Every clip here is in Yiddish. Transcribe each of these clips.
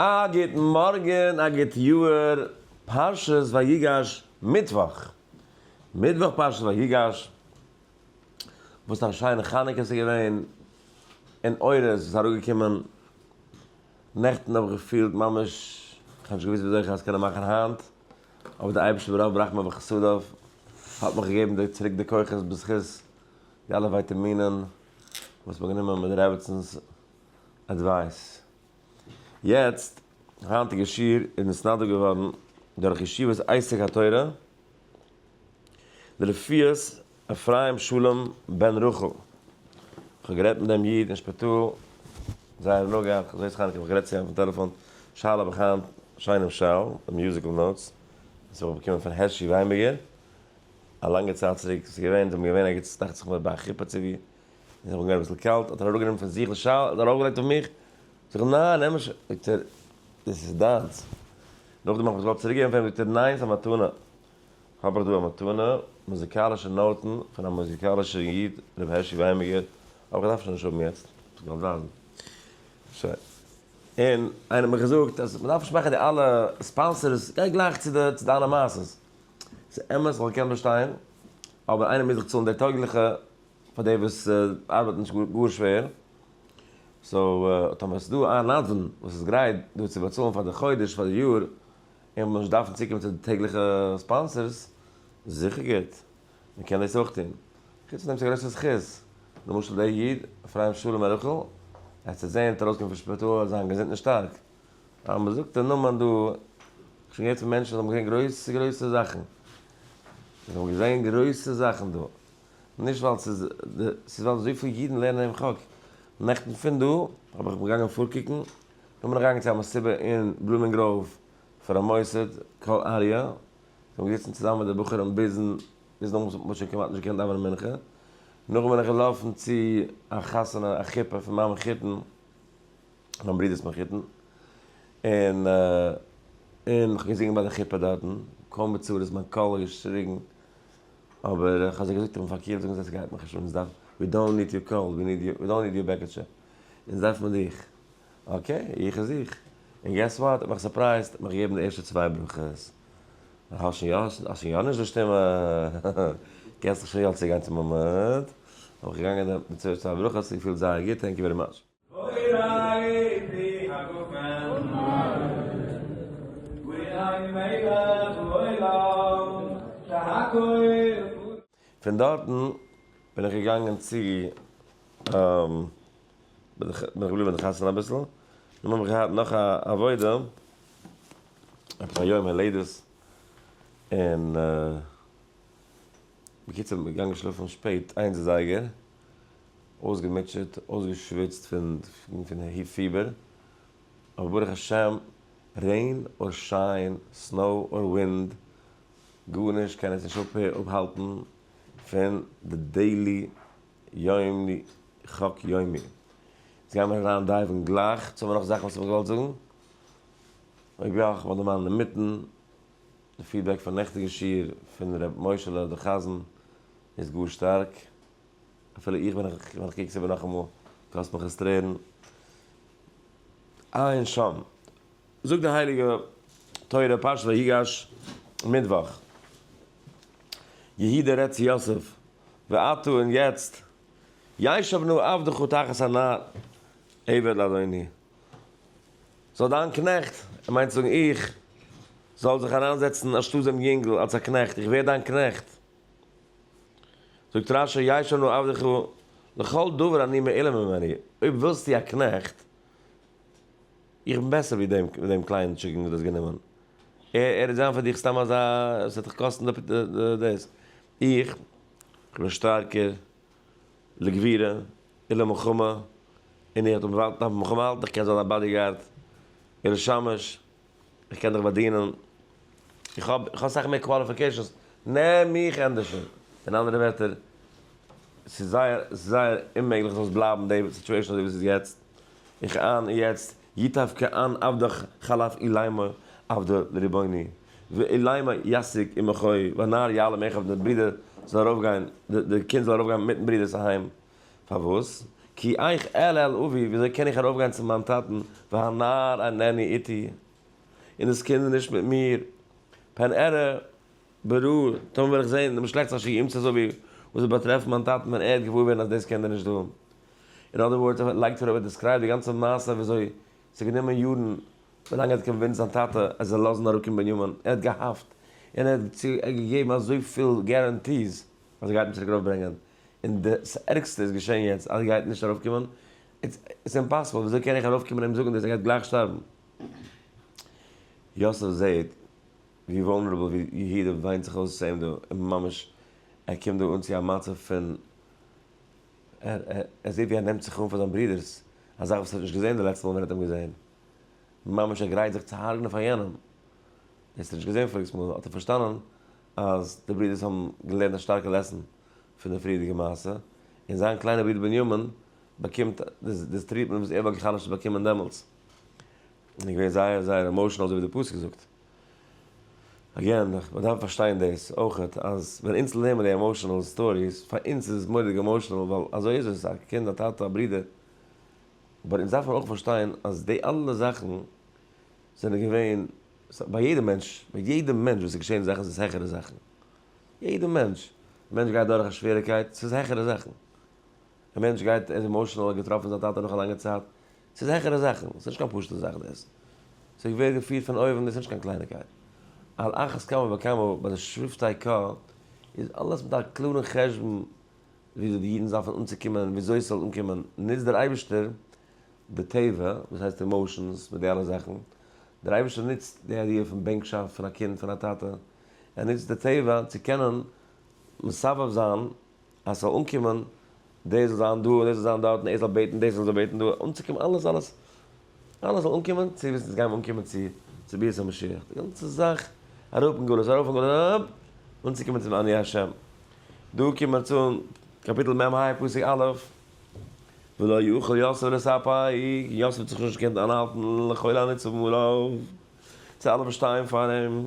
א גוטן מארגן, א גוט יאהר, פרשת ויגש מיטוואך, מיטוואך פרשת ויגש, וואס א שיינע חנוכה ס'איז געווען, און אורות וואס איז אראפגעקומען, נעכטן האב איך געפילט ממש, כ'האב נישט געוואוסט וויאזוי כ'האב עס קענען מאכן היינט, אבער דער אייבערשטער ברוב ברחמיו וחסדיו האט מיך געגעבן די צוריק די כוחות בזכות די אלע ווייטעמינען וואס כ'האב גענומען מיט די רעבעצענ'ס עדווייס. יעצט היינטיגע שיעור איז נתנדב געווארן דורך ישיבת עסק התורה דלפיית אפרים שלום בן רחל, איך האב גערעדט מיט דעם איד אין שפיטאל זייער הנאה געהאט, כ'האב זעהט חנוכה גערעדט צו אים אויפן טעלעפאן, שאלה האב איך היינט שיינעם שאל, די מיוזיקל נאוטס וואס איך האב באקומען פון הערשי וויינבערגער א לאנגע צייט צוריק, ס'איז געווען, זיי האבן געווען ערגעץ דאכט זיך מיר ביי א חופה צו ווי. איך האב אנגעהויבן אביסל קאלט, האט ער אראפגענומען פון זיך די שאל און ארויפגעלייגט אויף מיך, זאג איך ניין נעם נישט, זאגט ער דאס איז דיינס, נאכדעם האב איך עס געוואלט צוריק געבן פאר אים, זאגט ער ניין ס'איז א מתנה, האב איך דא א מתנה, מוזיקאלישע נאוטן פון א מוזיקאלישע איד ר' הערשי וויימעגער, אבער איך דארף עס שוין נישט האבן יעצט, האב איך געוואלט ווייזן, שוין, און איינער האט מיר געזאגט אז מ'דארף נישט מאכן די אלע ספאנסערס, גיי גלייך צו די צו דיינע מעשות, ס'אמת איך וואלט געקענט באשטיין, אבער איינער מוז דאך צאלן די טויגליכע פאר די וואס ארבייטן נישט גאר שווער, סאו טאמער ס'דא איין נדבן וואס איז גרייט דא צו באצאלן פאר די חודש פאר די יאר, און מ'זאל נישט דארפן צוקומען צו די טעגליכע ספאנסערס, זיכער גוט, מ'קען דאס אויך טון. חוץ פון דעם ס'איז א גרויסע זכות, למשל דער איד אפרים שלום הערכל, ער האט זיך זעענט ארויסגעקומען פון שפיטאל זיין געזונט און שטארק, אז מ'זאגט דער נאמען דא, כ'האב שוין געהערט פון מענטשן וואס האבן געזען גרויסע גרויסע זאכן, זיי האבן געזען גרויסע זאכן דא. נישט ווייל ס'איז די, ס'איז ווייל אזויפיל אידן לערנען דעם חק. נעכטן פון דא האב איך געגאנגען פארקוקן, כ'בין אריינגעגאנגען צו א מסיבה אין בלומינגראוו פון א מוסד, קול אריה, זיי האבן געזיצן צוזאמען מיט די בחורים ביזן, ביזן אויס, מ'האט שוין כמעט נישט געקענט דאווענען מנחה. נאכדעם בין איך געלאפן צו א חתונה, א חופה פון מיין מחותן, מיין ברודער'ס מחותן, און און כ'האב געזינגען ביי די חופה דארטן, קול מבצר איז מיין קול, געשריגן, אבער איך האב זיי געזאגט אויפן פארקערט זאגן זיי סגייט מיך נישט אן אונז דארף ווי דאונט ניד יור קאלד ווי ניד ווי דאונט ניד יור בעקעטשע אונז דארף מען דיך אקעי איך איז איך און געס וואט האט מיך סורפרייזט האט מיך געגעבן די ערשטע צוויי ברכות האסט שוין יא האסט שוין יא נישט די שטימע קענסט דיך שוין יא צוגיין צום עמוד האב איך געגאנגען די צוויי ברכות און געפילט זייער גוט טענק יו ווערי מאטש. אוי ריי פי הגפן ומלך אוי ריי מלך לעולם שהכל פון דארטן בין איך געגאנגען צו בין איך געבליבן אין די חתונה אביסל און דעם האב איך געהאט נאך א עבודה עפעס א יום הולדת און בקיצור בין איך געגאנגען שלאפן שפעט איינס זייגער אויסגעמוטשעט, אויסגעשוויצט פון הי פיבער, אבער ברוך השם, רעין אר שיין, סנאו אר ווינד, גארנישט קען אונז נישט אפהאלטן פון די דעילי יום חק יומי. יעצט גייען מיר אריין דייווען גלייך, יעצט האבן מיר נאך זאכן וואס איך וואלט געוואלט זאגן, אויב יא, איך וועל דערמאנען אינמיטן, די פידבעק פון נעכטיגע שיעור פון ר' משה'לע די חזן איז גאר שטארק. אפילו איך ווען איך ווען איך קוק עס איבער נאכאמאל קאסט מיך עס טרערן. עיין שם. זאגט די הייליגע תורה פרשת ויגש מיטוואך. יהי די ר' צבי יוסף ועתה און יעצט ישב נא עבדך תחת הנער עבד לאדוני זאל דיין קנעכט, ער מיינט צו זאגן איך, זאל זיך אריינזעצן אנשטאט דעם יונגל אלס א קנעכט, איך ווער דיין קנעכט. זאגט רש י יעשנו עבדיך לכל דבר אני מעלה ממני, אויב ווילסטו א קנעכט, איך בין בעסער ווי דעם דעם קליינעם טשיקן וואס דו האסט גענומען, ער וועט זיין פאר דיך סתם אזא, עס וועט דיך קאסטן דאס, איך בין שטארקער לגבירה און למלחמה, און איך וועל דארפן מיך אויפהאלטן, איך קען זיין א באדיגארד און א שמש. איך קען דיך באדינען, איך האב איך האב אסאך מער קוואליפיקעישאנס, נעם מיך ענדערשען. אין אנדערע ווערטער, ס'איז זייער ס'איז זייער אוממעגליך ס'זאל סיבלייבן די סיטועשאן אזוי ווי ס'איז יעצט, איך אן און יעצט, יטב כאן עבדך חלף איליימא עבדא לריבוני, ואיליימא ישיג עמך הוי, והנער יעלה מעכב דער ברודער זאל ארויפגיין, די קינד זאל ארויפגיין מיטן ברודערס אהיים. פארוואס? כי איך אל אל אבי, וויאזוי קען איך ארויפגיין צו מיין טאטן, והנער אינני איתי, און דאס קינד איז נישט מיט מיר, פן אראה ברעה, טאמער וועל איך זען דעם שלעכטס אשר ימצא סביבי, וואס וועט באטרעפן מיין טאטן ווען ער וועט געוואר ווערן אז דאס קינד איז נישט דא. אין אנדערע ווארט, ער לייגט אראפ, ער דיסקרייבט די גאנצע מעשה וויאזוי עס האט גענומען יארן, ווילאנג ער האט קאנווינסט זיין טאטע ער זאל לאזן אראפקומען בנימין, ער האט געהאפט, און ער האט געגעבן אזויפיל געראנטיס אז ער גייט אים צוריק ארויפברענגען, און דאס ערגסטע איז געשען יעצט אז ער גייט נישט ארויף קומען, איטס אימפאסיבל, וויאזוי קען איך ארויף קומען און אים זאגן דאס ער גייט גלייך שטארבן? יוסף זעהט ווי וואלנערעבל ווי יהודה וויינט זיך אויס צו אים דא, און ממש ער קומט דא אן צו א מצב פון ער ער זעהט ווי ער נעמט זיך אן פאר זיין ברודער'ס, א זאך וואס ער האט נישט געזעהן די לעצטע מאל ווען ער האט אים געזעהן, ממש ער גרייט זיך צו הרג'נען פאר יענעם, דאס האט ער נישט געזעהן פאריגס מאל, האט ער פארשטאנען אז די ברודערס האבן געלערנט א שטארקע לעסן פון די פריערדיגע מעשה, און זיין קליינער ברודער בנימין באקומט די טריעטמענט וואס ער וואלט בכלל נישט באקומען דעמאלטס, און איז געווען זייער זייער עמאושענעל אזוי ווי די פסוק זאגט. אגעין, מען דארף פארשטיין דאס אויכעט, אז ווען אונז לערנען די עמאושענעל סטאריס, פאר אונז איז עס מורא'דיג עמאושענעל, ווייל אזוי איז עס, א קינד, א טאטע, א ברודער, אבער אונז דארף מען אויך פארשטיין אז די אלע זאכן זענען געווען ביי יעדע מענטש, מיט יעדע מענטש וואס איז געשען זאכן איז עס העכערע זאכן, יעדע מענטש, א מענטש גייט דורך א שוועריקייט, ס'איז העכערע זאכן, א מענטש גייט, ער איז עמאושענעל, ער האט געטראפן זיין טאטע נאך א לאנגע צייט, ס'איז העכערע זאכן, ס'איז נישט קיין פשוט'ע זאך דאס, ס'ווערט געפירט פון אויבן, דאס איז נישט קיין קלייניגקייט, על אחת כמה וכמה ביי די שבטי ק, איז אלעס מיט א קלארן חשבון, וויאזוי די אידן זאפן אנצוקומען און וויאזוי עס זאל אנקומען, נוצט דער אייבערשטער די טבע, וואס הייסט עמאושענס, מיט די אלע זאכן, דער אייבערשטער נוצט די איידיע פון בענקשאפט פון א קינד פון א טאטע, ער נוצט די טבע צו קענען מסבב זיין אז עס זאל אנקומען, דער זאל זיין דא און דער זאל זיין דארט און ער זאל בעטן דאס און ער זאל בעטן דא, אנצוקומען אלעס אלעס אלעס זאל אנקומען צו וואס אונז גייען אנקומען צו, צו ביאת המשיח, די גאנצע זאך אראפ אין גלות ארויף אין גלות אראפ, אנצוקומען צום אני ה'. דא קומט מען צו אין קאפיטל מ ה פסוק א', ולא יוכל יוסף לספיק, יוסף האט זיך נישט געקענט איינהאלטן לכל הנצבים עליו, צו אלע וואס שטייען פאר אים.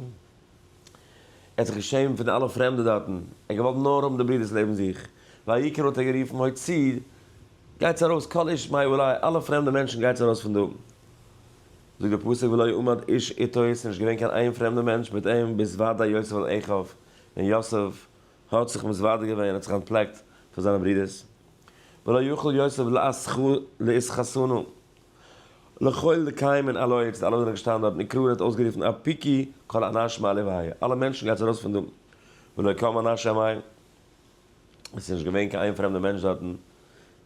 ער האט זיך געשעמט פון די אלע פרעמדע דארטן, ער האט געוואלט נאר האבן די ברידערס לעבן זיך, והעיקר האט ער גערופן הוציא, גייטס ארויס כל איש מאי אולי, אלע פרעמדע מענטשן גייטס ארויס פון דא, זאגט דער פסוק ולא עמד איש איתו, עס איז נישט געווען קיין איין פרעמדע מענטש מיט אים, ביז ודאי יוסף אל אחיו, ווען יוסף האט זיך מתוודה געווען, האט זיך אנטפלעקט פון זיינע ברידערס, ולא יכול יוסף לאיש חתנו. לכל לקיים און אלע איצט אלע זענען געשטאנען דארט נקרא און האט אויסגערופן אפיקי כל אנשים א לוויה אלע מענטשן גייטס ארויס פון דא ולא קם אנש א מייל עס איז נישט געווען קיין איין פרעמדע מענטש דארטן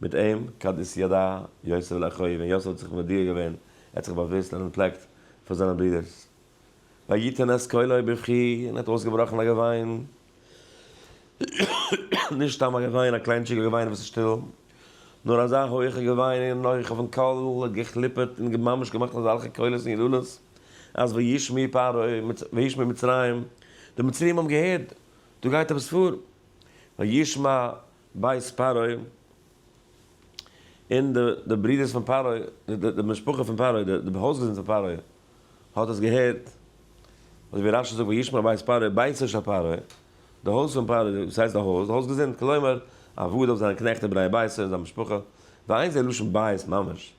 מיט אים כדת ידע יוסף לאחיו ווען יוסף האט זיך מודיע געווען ער האט זיך באוואוסט און אנטפלעקט פאר זיינע ברידערס ויתן את קולו בבכי און ער האט אויסגעבראכן א געוויין. נישט סתם א געוויין, א קליינטשיגע געוויין וואס איז שטיל, נאר אזא הויכע געוויין און הויך אויפן קול האט געכליפערט און ממש געמאכט אזעלכע קולות און יללות אז וישמעו פרעה וישמעו מצרים, די מצרים האבן געהערט, דא גייט עפעס פאר, וישמע בית פרעה, און די ברודערס פון פרעה, די משפחה פון פרעה, די הויזגעזינד פון פרעה, האט עס געהערט, אזוי ווי רשי זאגט וישמע בית פרעה, ביתו של פרעה, די הויז פון פרעה, וואס הייסט די הויז? די הויז געזונט, כלומר, א ווארד אויף זיינע קנעכט און בני ביתו און זיין משפחה, ועיין זה לשון בית ממש,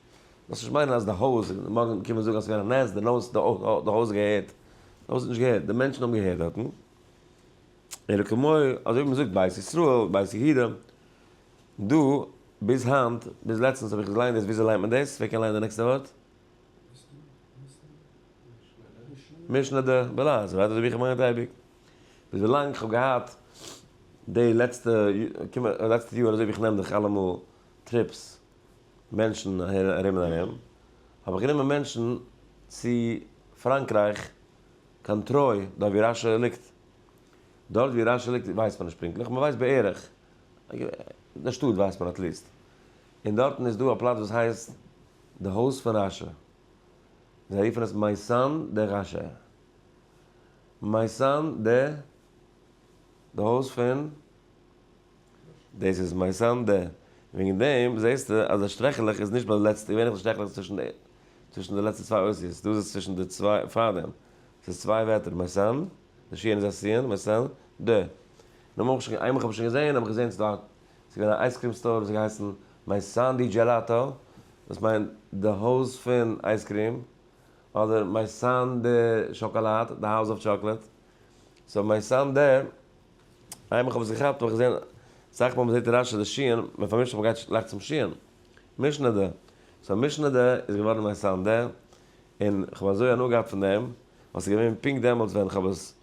דאס נישט מיינען אז די הויז, מארגן קומען זאגן אז ס'איז געווען א נס, די נס, די הויז האט געהערט, די הויז האט נישט געהערט, די מענטשן האבן געהערט דארטן, אלא כמו, אזוי ווי מ'זאגט בית ישראל, בית יהודה, דא, ביז היינט, ביז לעצטנס האב איך געליינט דאס, וויאזוי ליינט מען דאס? ווער קען ליינען די נעקסטע ווארט? משנה ד, ב ל, אזוי ווייט אזויווי איך האב געמיינט אייביג. ביז ווילאנג איך האב געהאט די לעצטע לעצטע יאר אזויווי איך נעם דאך אלעמאל טריפס מענטשן אהער ארום און ארום, האב איך גענומען מענטשן צו פראנקרייך קיין טרוי דארט ווי רשי ליגט. דארט ווי רשי ליגט ווייסט מען נישט פונקטליך, מען ווייסט בערך, די שטאט ווייסט מען עטליעסט. און דארטן איז דא א פלאץ וואס הייסט די הויז פון רשע, זיי רופן עס מייסאן דע ראשער, מייסאן דע, די הויז פון, דאס איז מייסאן דע, וועגן דעם זעסטו אז די שטרעכעלעך איז נישט ביי די לעצטע, געווענליך די שטרעכעלעך איז צווישן די, צווישן די לעצטע צוויי אותיות, דא איז עס צווישן די צוויי, פארדעם, ס'איז צוויי ווערטער, מייסאן, די שיען איז א סיען, מייסאן דע, נאר מ'האב איך שוין, איינמאל כ'האב עס שוין געזען, האב איך געזען ס'איז דא א ס'איז געווען א אייזקרים סטאר וואס האט געהייסן מיי סאנדי דזשעלאטא, וואס מיינט די הויז פון אייזקרים, אדער מיי סאן דע שאקאלאד, די האוז אוו טשאקלעט. סאו מיי סאן דע, איי מיך האב עס געכאפט האב איך געזען אסאך מאל מ'זעט רש י די ש ן, מען פארמישט זיך מען גייט גלייך צום ש ן, משנה דע. סאו משנה דע איז געווארן מיי סאן דע, און כ'האב אזוי הנאה געהאט פון דעם, ווייל ס'איז געווען פונקט דעמאלטס ווען כ'האב עס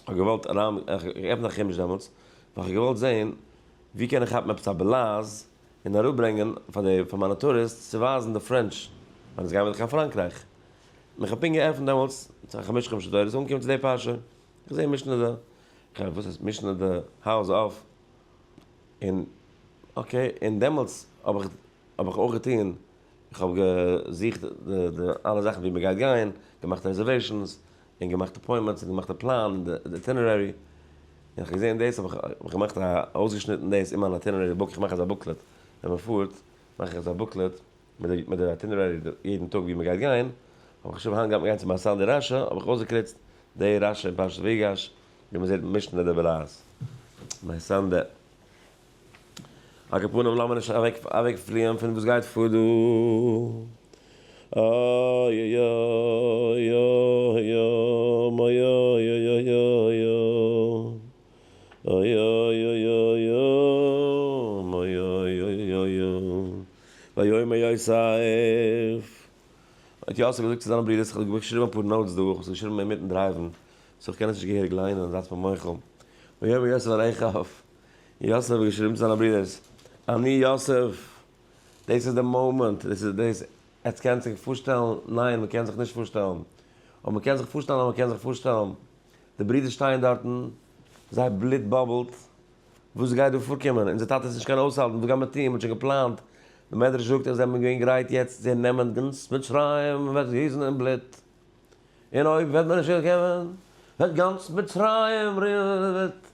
כ'האב געוואלט אריין, כ'האב געעפנט א חומש דעמאלטס, ווייל כ'האב געוואלט זעהן ווי קען איך כאפן עפעס א בלאז און אראפברענגען פאר די, פאר מיינע טוריסטס צו ווייזן די פרענטש, ווען אונז גייען ווידער קיין פראנקרייך. און כ'האב פונקט געעפנט דעמאלטס א חמש חומשי תורה, ס'איז אנגעקומען צו די פרשה, כ'זעה משנה ד, כ'הער וואס הייסט משנה ד, האוז אף, און אקעי, און דעמאלטס האב איך, האב איך אויך געטוהן, כ'האב געזוכט די אלע זאכן ווי מ'גייט גיין, געמאכט רעזערוועישאנס, און געמאכט אפוינטמענטס און געמאכט די פלאן און די איטינערערי, און איך האב געזען דאס האב איך געמאכט א אויסגעשניטן דאס אין מיין איטינערערי בוק, איך מאך אזא בוקלעט ווען מען פארט מאך איך אזא בוקלעט מיט די איטינערערי יעדן טאג ווי מען גייט גיין, האב איך חשוב היינט גייט מען גיין צו באסאן די רשע האב איך אויסגעקריצט די רשע אין פרשת ויגש ווי מען זעט משנה דער בעל א. מיין סנדע. על כּל פּנים, לאָמיר נישט אַװעקפֿליִען פֿון װאָס גײט פֿאָר דאָ. ויאמר יוסף. האט יוסף געזאגט צו זיינע ברידערס, כ'האב געשריבן אפאר נאוטס דא, כ'האב עס געשריבן אינמיטן דרייוון, סאו כ'קען עס נישט געהעריג ליינען, זייטס מיר מוחל. ויאמר יוסף אל אחיו. יוסף האט געשריבן צו זיינע ברודערס, אני יוסף, דאס איז די מאמענט, דאס איז דאס, עטס קענט זיך פארשטעלן, ניין מען קען זיך נישט פארשטעלן, אויב מען קען זיך פארשטעלן אז מען קען זיך פארשטעלן, די ברודער שטייען דארטן, זייער בלוט באבלט, וואס גייט דא פארקומען, אונזער טאטע איז נישט קיין אויסהאלטן, וואס גייט מען טון, מען האט שוין געפלאנט, די מדרש זאגט אז זיי האבן געווען גרייט יעצט צו נעמען גאנץ מצרים און וועט גיסן אין בלוט, און אויב וועט מען נישט אויסקומען, וועט גאנץ מצרים וועט.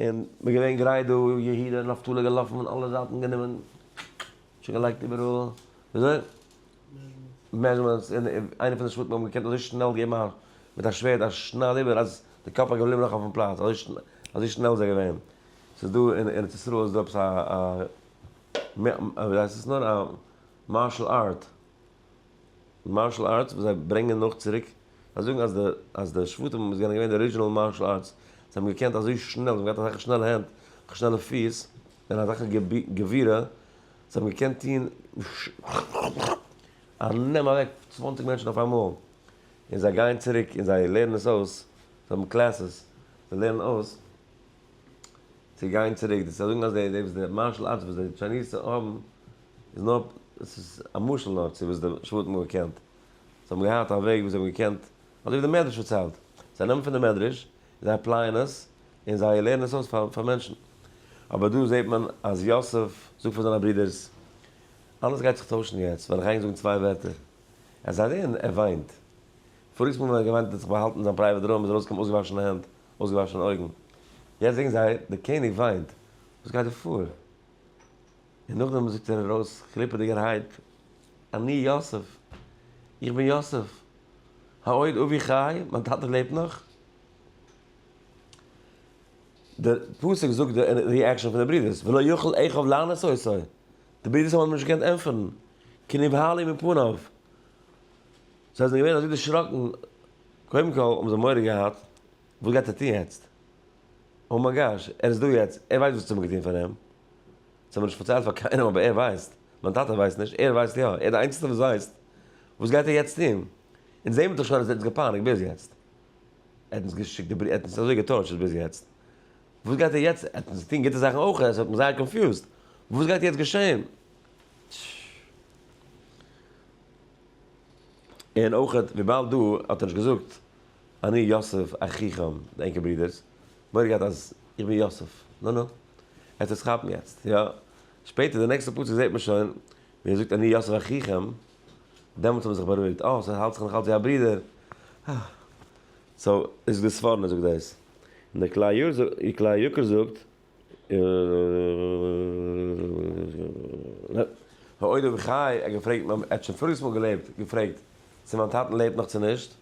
און מ'איז געווען גרייט דא, יהודה און נפתלי געלאפן פון אלע זייטן גענומען שוין געלייגט איבעראל, וויאזוי? מעזשמענטס, און איינע פון די שבטים האבן געקענט אזוי שנעל געבן א מיט א שווערד א שנייד איבער אז די קאפ איז געבליבן נאך אויפן פלאץ, אזוי שנעל איז ער געווען. ס'איז דא אין ארץ ישראל איז דא עפעס א, וויהייסט עס נאר, א מארשל ארט. מארשל ארטס וואס זיי ברענגען נאך צוריק, זיי זאגן אז די אז די שבטים איז געווען די ארידזשינעל מארשל ארטס, זיי האבן געקענט אזוי שנעל, זיי האבן געהאט אזעלכע שנעלע הענט, אזעלכע שנעלע פיס, און אזעלכע געווירע, זיי האבן געקענט טוהן און נעמען אוועק צוואנציג מענטשן אויפאמאל, און זיי גייען צוריק און זיי לערנען עס אויס, זיי האבן קלעסעס, זיי לערנען אויס צו גיין צוריק, זיי זאגן אז די וואס די מארשל ארטס וואס די טשייניזע האבן איז נאר, עס איז א משל נאר צו וואס די שבטים האבן געקענט. זיי האבן געהאט א וועג ווי זיי האבן געקענט, אזוי ווי די מדרש פארציילט. זיי נעמען פון די מדרש, און זיי עפלייען עס, און זיי לערנען עס אויס פאר פאר מענטשן. אבער דא זעט מען אז יוסף זאגט פאר זיינע ברודערס, אלעס גייט זיך טוישן יעצט ווען איך גיי ענק זאגן צוויי ווערטער. עס זיי דען ער וויינט. פאריגס מאל ווען ער האט געוויינט האט ער זיך באהאלטן זיין פרייוועט רום, איז ארויסגעקומען אויסגעוואשענע הענט, אויסגעוואשענע אויגן. יעצט זעהן זיי, דער קעניג וויינט. וואס גייט דא פאר? און נאכדעם זאגט ער ארויס קליפעדיגערהייט, אני יוסף, איך בין יוסף, העוד אבי חי, מיין טאטע לעבט נאך. די פסוק זאגט די ריעקשאן פון די ברידערס, ולא יכל אחיו לענות אותו, די ברידערס האבן אים נישט געקענט ענטפערן, כי נבהל הוא מפניו, זיי זענען געווען אזוי דערשראקן, קודם כל האבן זיי מורא געהאט, וואס גייט ער טון יעצט? אוי מיי גאש, ער איז דא יעצט, ער ווייסט וואס צו האבן געטון פאר אים. זיי האבן נישט פארציילט פאר קיינעם אבער ער ווייסט. מיין טאטע ווייסט נישט, ער ווייסט יא, ער איז די איינציגסטע וואס ווייסט. וואס גייט ער יעצט טון? אונז זעהן מיר דאך שוין אז ער האט אונז געפייניגט ביז יעצט. ער האט אונז געשיקט די בריוו, ער האט אונז אזוי געטארטשערט ביז יעצט. וואס גייט ער יעצט? ער האט אונז געטון גוטע זאכן אויך, עס האט מיך זייער קאנפיוזד. וואס גייט יעצט געשעהן? און אויך וויבאלד דא האט ער נישט געזאגט אני יוסף אחיכם, די ענקער ברודערס, מורא געהאט אז איך בין יוסף, נו נו, עטס וועטס כאפן יעצט, יא, שפעטער די נעקסטע פסוק זעט מען שוין ווי ער זאגט אני יוסף אחיכם, דעמאלטס האב איך זיך בארואיגט, אה, סאו האלט זיך נאך אלץ ווי א ברודער, אה, סאו איז די ספורנו זאגט דאס, און די כלל יקר זאגט, העודם חי, ער האט געפרעגט, ער האט שוין פאריגס מאל געלעבט, געפרעגט צו מיין טאטן לעבט נאך צו נישט,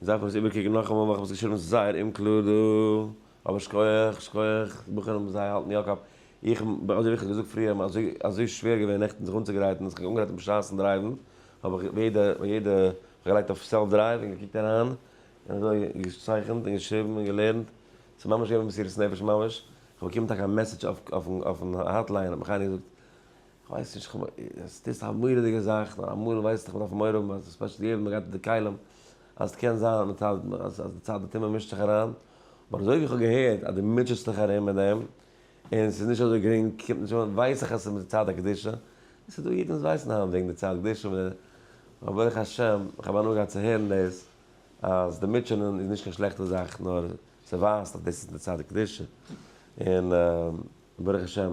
איר דארפט עס איבערקוקן נאכאמאל ווייל איך האב עס געשריבן זייער אומקלאר דא. אבער שכוח, שכוח, די בחורים זיי האלטן יא קאפ. איך, אזוי ווי איך האב געזאגט פריער, מיר אזוי אזוי שווער געווען נעכטן זיך אנצוגרייטן און זיך אנגרייטן בשעת'ן דרייוון, האב איך ביי יעדע ביי יעדע געלייגט אויף סעלף דרייוו און געקוקט אריין, און אזוי געצייכנט און געשריבן און געלערנט. ס'איז ממש געווען מסירת נפש ממש. כ'האב באקומען טאקע א מעסעדזש אויף אויפן אויפן האטליין האט מיך איינער געזאגט. כ'ווייס נישט, כ'מיין, עס איז א מורא'דיגע זאך, נאר אמאל ווייסט איך, מ'דארף מורא האבן אז ספעשל יעדע ווען מ'גייט אין די כלים, אז ס'קען זיין אז די צד הטומאה מישט זיך אריין, אבער אזוי ווי כ'האב געהערט אז דו מוטשעסט דיך ארום מיט דעם, און ס'איז נישט אזוי גרינג, קומט נישט אן, ווייס איך אז ס'איז מיט די צד הקדושה, און ס'איז דא אידן וואס ווייסן היינט וועגן די צד קדושה, אבער ברוך השם, כ'האב הנאה געהאט צו הערן דאס, אז די מוטשענען איז נישט קיין שלעכטע זאך, נאר ס'ווייזט אז דאס איז די צד הקדושה, און ברוך השם.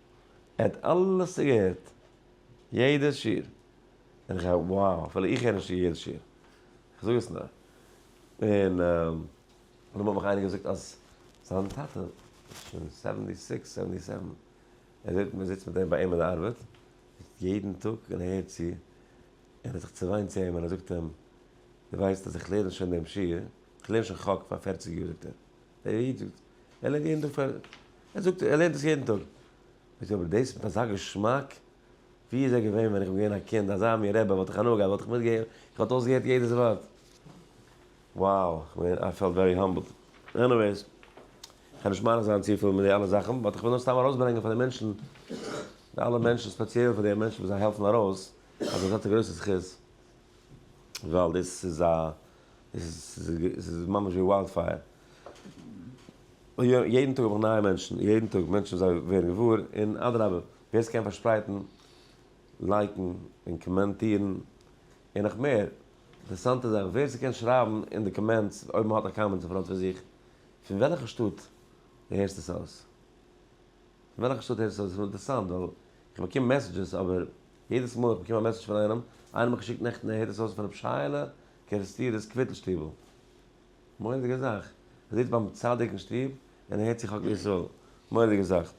ער האט אלעס צוגעהערט, יעדע שיעור, און איך האב וואו, אפילו איך הער נישט יעדע שיעור, איך זאג עס נאר, און דערנאך האט מיך איינער געזאגט אז זיין טאטע איז שוין סעווענטי סיקס סעווענטי סעווען, ער זעט מען זיצט מיט אים ביי אים אין די ארבעט יעדן טאג און ער הערט צו, און ער האט זיך צעוויינט צו אים און ער זאגט אים, דו ווייסט אז איך לערן שוין דעם שיעור, איך לערן שוין חק פאר פערציג יאר זאגט ער. דער איד זאגט, ער לערנט יעדן טאג פאר, ער זאגט ער לערנט עס יעדן טאג. זאגט ער, אבער דאס מיט אזא געשמאק, ווי איז ער געווען ווען איך בין געווען א קינד, אזא מין רבי וואלט איך הנאה געהאט, וואלט איך מיט געהערט, איך וואלט אויסגעהערט יעדעס ווארט. Wow, כ'בין, I felt very humbled. עניוועיס, כ'על נישט מאריך זיין צופיל מיט די אלע זאכן, באט כ'וויל נאר סתם ארויסברענגען פאר די מענטשן, די אלע מענטשן, ספעציעל פאר די מענטשן וואס זיי העלפן ארויס, אז אזעלכע גרויסע זכות, ווייל דאס איז א. עס איז ממש ווי וויילד פייער. יעדן טאג האב איך נייע מענטשן, יעדן טאג מענטשן זיי ווערן געוואר, און אדרבה, ווער עס קען פארשפרייטן, לייקן, און קאמענטירן, און נאך מער, אינטערעסאנטע זאכן, ווער עס קען שרייבן אין די קאמענטס, אויב מען האט א קאמענט אין פראנט פון זיך, פון וועלכע שטאט דו הערסט עס אויס. פון וועלכע שטאט הערסט עס אויס? אינטערעסאנט, ווייל איך באקום מעסעדזשעס, אבער יעדעס מאל איך באקום א מעסעדזש פון איינעם, איינער האט מיך געשיקט נעכטן הער דאס אויס פון רב שייעלע קערעסטירער'ס קוויטל שטיבל. מורא'דיגע זאך. ער זיצט ביים צדיק אין שטוב און ער הערט צו חקל ישראל. מורא'דיגע זאך.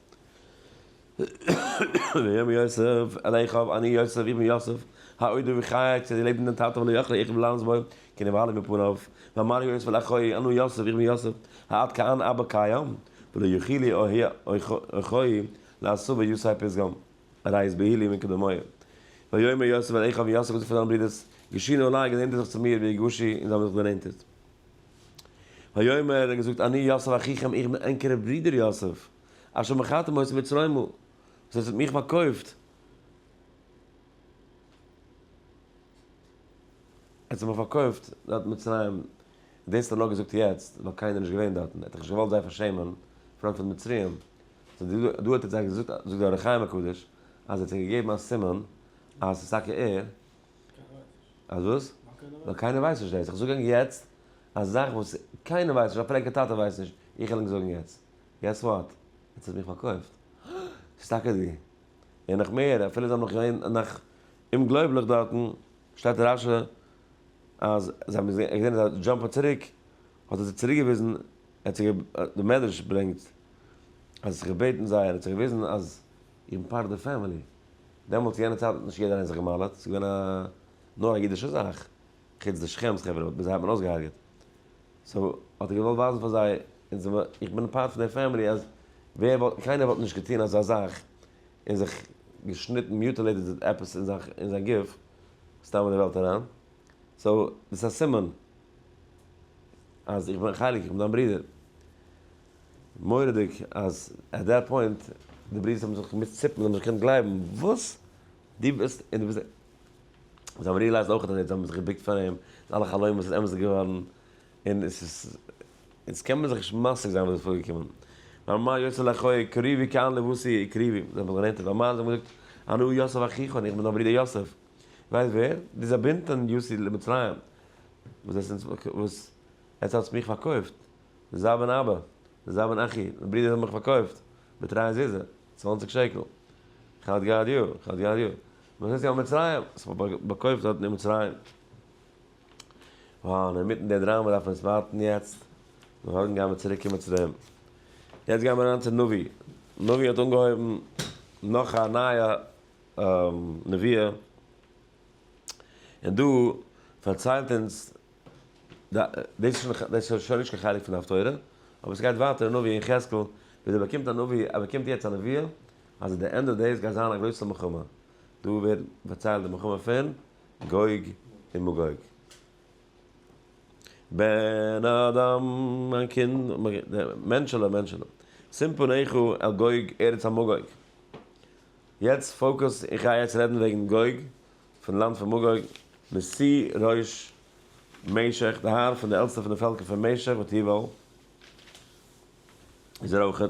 ויאמר יוסף אל אחיו אני יוסף איך בין יוסף העודר וחי צו דערלעבן דעם טאטע ולא יחלה אחיו ללענס בו כי נבהלה מפניו. ואמר יוסף אל אחיו אנא יוסף איך בין יוסף העד כאן אבא קיים ולא יחילי אחיי לעשו ויסעי פסגם. רייז בהילי מקדמיה. ויאמר יוסף אל אחיו, יוסף האט געזאגט פאר זיינע ברודערס, געשו נא אליי, גענענטערט זיך צו מיר, ויגשו, און זיי האבן זיך גענענטערט. ויאמר, ער האט געזאגט, אני יוסף אחיכם, איך בין ענקערע ברודער יוסף, אשר מכרתם אותי מצרימה, וואס איר האט מיך פארקויפט, ער האט זיך מיך פארקויפט דארט אין מצרים, דאס האט ער נאר געזאגט יעצט, ווייל קיינער איז נישט געווען דארטן, ער האט דאך נישט געוואלט זיי פארשעמען פארנט פון די מצריים, דא האט ער זיי געזאגט, זאגט דער אור החיים הקדוש, אז ער האט זיי געגעבן א סימן אז ס'איז טאקע ער, אז וואס? ווייל קיינער ווייסט נישט דאס, איך זאג ענק יעצט א זאך וואס קיינער ווייסט נישט, א פרעגער טאטע ווייסט נישט, איך וועל ענק זאגן יעצט, געס וואט? יעצט האט מיך פארקויפט, ס'איז טאקע דו, און נאך מער, אפילו זיי האבן נאך געווען נאך אומגלויבליך דארטן, שטייט רשי אז זיי האבן עס געזען, ער איז א דזשאמפער צוריק, האט ער זיי צוריק געוויזן, ער האט זיי גע, די מדרש ברענגט אז ער האט זיך געבעטן זיי, ער האט זיי געוויזן אז איבן פאר די פעמילי, דעמאלטס יענע צייט האט נישט יעדער איינער זיך געמאלעט, ס'איז געווען א, נאר א אידישע זאך, חוץ די שכמ'ס חברה וואס מיט זיי האט מען אויסגעהארגעט, סאו האט ער געוואלט ווייזן פאר זיי, אונז זעמער, איך בין פארט פון די פעמילי אז ווער וואלט, קיינער וואלט נישט געטון אזא זאך און זיך געשניטן, מיוטעלעיטעד עפעס אין זיין גוף, סתם אין די וועלט אריין. סאו דאס איז א סימן אז איך בין חלק, איך בין דיין ברודער. מורא'דיג אז עט דעט פוינט די ברודערס האבן זיך געמוזט ציפן, זיי האבן נישט געקענט גלייבן, וואס? דו ביסט און דו ביסט א. זיי האבן ריעלייזד אויך אז זיי האבן זיך געבוקט פאר אים, די אלע חלומות איז אמת געווארן, און עס איז, אונז קען מען זיך נישט משיג זיין וואס איז פארגעקומען. ואמר יוסף לאחיו קריבי כאן לבושי קריבי, זיי האבן זיך גענענטערט, ואמר זיי האבן געזאגט אנא יוסף אחיך, איך בין דיין ברודער יוסף. ווייסט ווער? די זאבינטע און יוסי למצרים וואס עס וואס עטס האטס מיך פארקויפט, זאב און אבא, זאב און אחי, די ברידער האבן מיך פארקויפט בתרי זיזה, צוואנציג שקל, חד גד יא, חד גד יא, וואס עטס יא מצרים, עס האט מיך פארקויפט דארטן אין מצרים, וואו אינמיטן די דראמא דארף מען עס ווארטן יעצט, מארגן גייען מיר צוריק קיין מצרים, יעצט גייען מיר אריין צו נביא, נביא האט אנגעהויבן נאך א נייע נביא, און דא פארציילט אונז די, דאס איז שוין נישט קיין חלק פון הפטורה, אבער עס גייט ווייטער אין נביא יחזקאל, ווי דער באקומט א נביא, ער באקומט יעצט א נביאה, אז עט די ענד אוו דעיס גייט זיין א גרויסע מלחמה, דא ווערט פארציילט די מלחמה פון גוג און מגוג. בן אדם, מיין קינד, מענטשעלע, מענטשעלע, סימפא ניחא על גוג ארץ המגוג. יעצט פאוקוס, איך גיי יעצט רעדן וועגן גוג, פון לאנד פון מגוג, מסי ר' משך, די האר פון די עלטסטע פון די פעלקער פון משך ואת יבל, איז ער אויך א.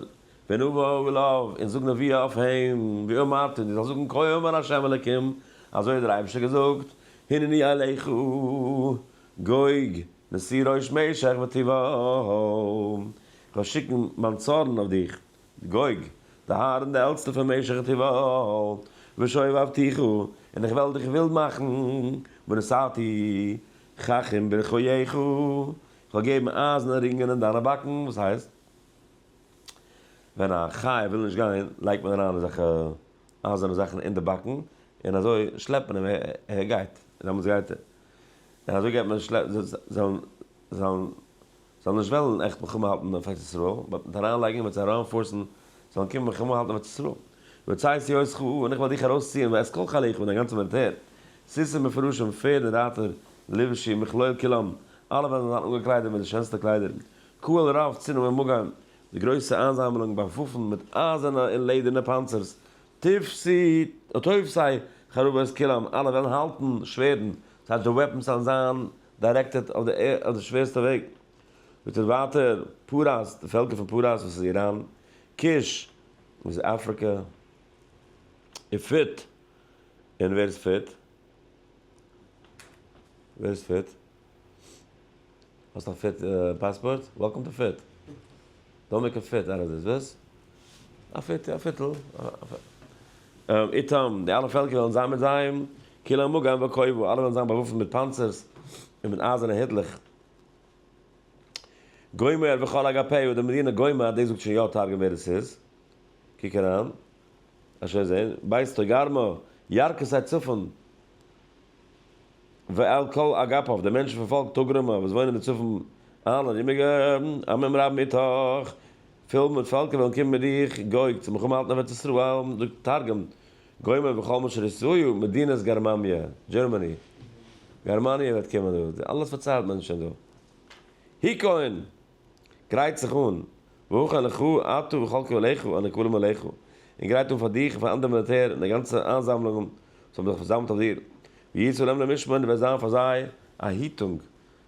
ונבוא אליו, און זאג נביאה אויף אים, ואמרת, און דו זאלסט זאגן, כה אמר השם אלקים, אזוי האט דער אייבערשטער געזאגט, הנני אליך, גוג, מסי ר' משך ואת יבל, איך וועל שיקן מיין צארן אויף דיך, גוג, די הארן די עלטסטע פון משכת יובל, ושואב ואבטיחו, און איך וועל דיך ווילד מאכן, ונשאתי חכם ברכיך, איך וועל געבן אייזענע רינגען אין דיינע באקן, וואס הייסט? ווען א חיה וויל נישט גיין, לייגט מען אריין אזעלכע אייזערנע זאכן אין די באקן, און אזוי שלעפט מען אים ער גייט, און דעמאלטס גייט ער, און אזוי גייט מען זיי זיי זאלן. זאלן נישט וועלן עכט מלחמה האלטן אויף ארץ ישראל, באט מיט אריין לייגן וועט זיי אריינפארסן זאלן קומען מלחמה האלטן אויף ארץ ישראל. יוצאי סיעות ח א און איך וועל דיך ארויסציען ואת כל חייליך מיט דיין גאנצע מיליטער, סוסים מפורשים, פערד און רייטער, לבשי מכלול כולם, אלע וועלן זיין אנגעקליידעט מיט די שענסטע קליידער, קהל רב צנום ומוגן, די גרויסע איינזאמלונג באוואפנט מיט אייזערנע און לעדערנע פאנצערס, תפסי תופסי חרבות כולם, אלע וועלן האלטן שווערדן, ס'הייסט די וועפנס וועלן זיין דיירעקטעד אויף די שווערסטע וועג, וועט ער ווייטער פאראייס, די פעלקער פון פאראייס וואס איז איראן, כוש וואס איז אפריקע, און פוט, און ווער איז פוט? ווער איז פוט? האסט א פוט פאספארט? וועלקאם טו פוט! דאָ מיר קען פֿערט, אַרז איז װאָס? אַ פֿערטע, אַ פֿערטל, אַ פֿערטל. איתם, די אַלע פֿעלקער װעלן זײַן מיט זײ, כּולם מגן וכּובֿא, אַלע װעלן זײַן באַװאָפֿנט מיט פּאַנצערס און מיט אײַזערנע היטלעך. גומר, וכל אגפיו, די מדינה גומר, דאס זאגט שוין יא תרגום ווער עס איז, קוק אריין, אשוי זעהן, בית טויגארמא, ירכא סיי צפון, ועל כל אגפיו, די מענטשן פון פאלק טאגראמא וואס וואוינען אין צפון אלע ארומיגע עמים רב מיטאך, פול מיט פעלקער וועלן קומען מיט דיך, גוג, צו מלחמה האלטן אויף ארץ ישראל, דא תרגום, גומר בכל מה שריצוהו, מדינת גרממיא, דזשערמעני, גערמאניע וועט קומען דא, אלעס פארציילט מען שוין דא. היכון! גרייט זיך אן, ואוכל לך אתה וכל קהליך און הקהלים עליך, און גרייט אן פאר דיך און פאר אנדערע מיליטער און די גאנצע איינזאמלונגען וואס האבן זיך פארזאמלט אויף דיר, ויהי צלם למשמר און דו וועסט זיין פאר זיי א היטונג,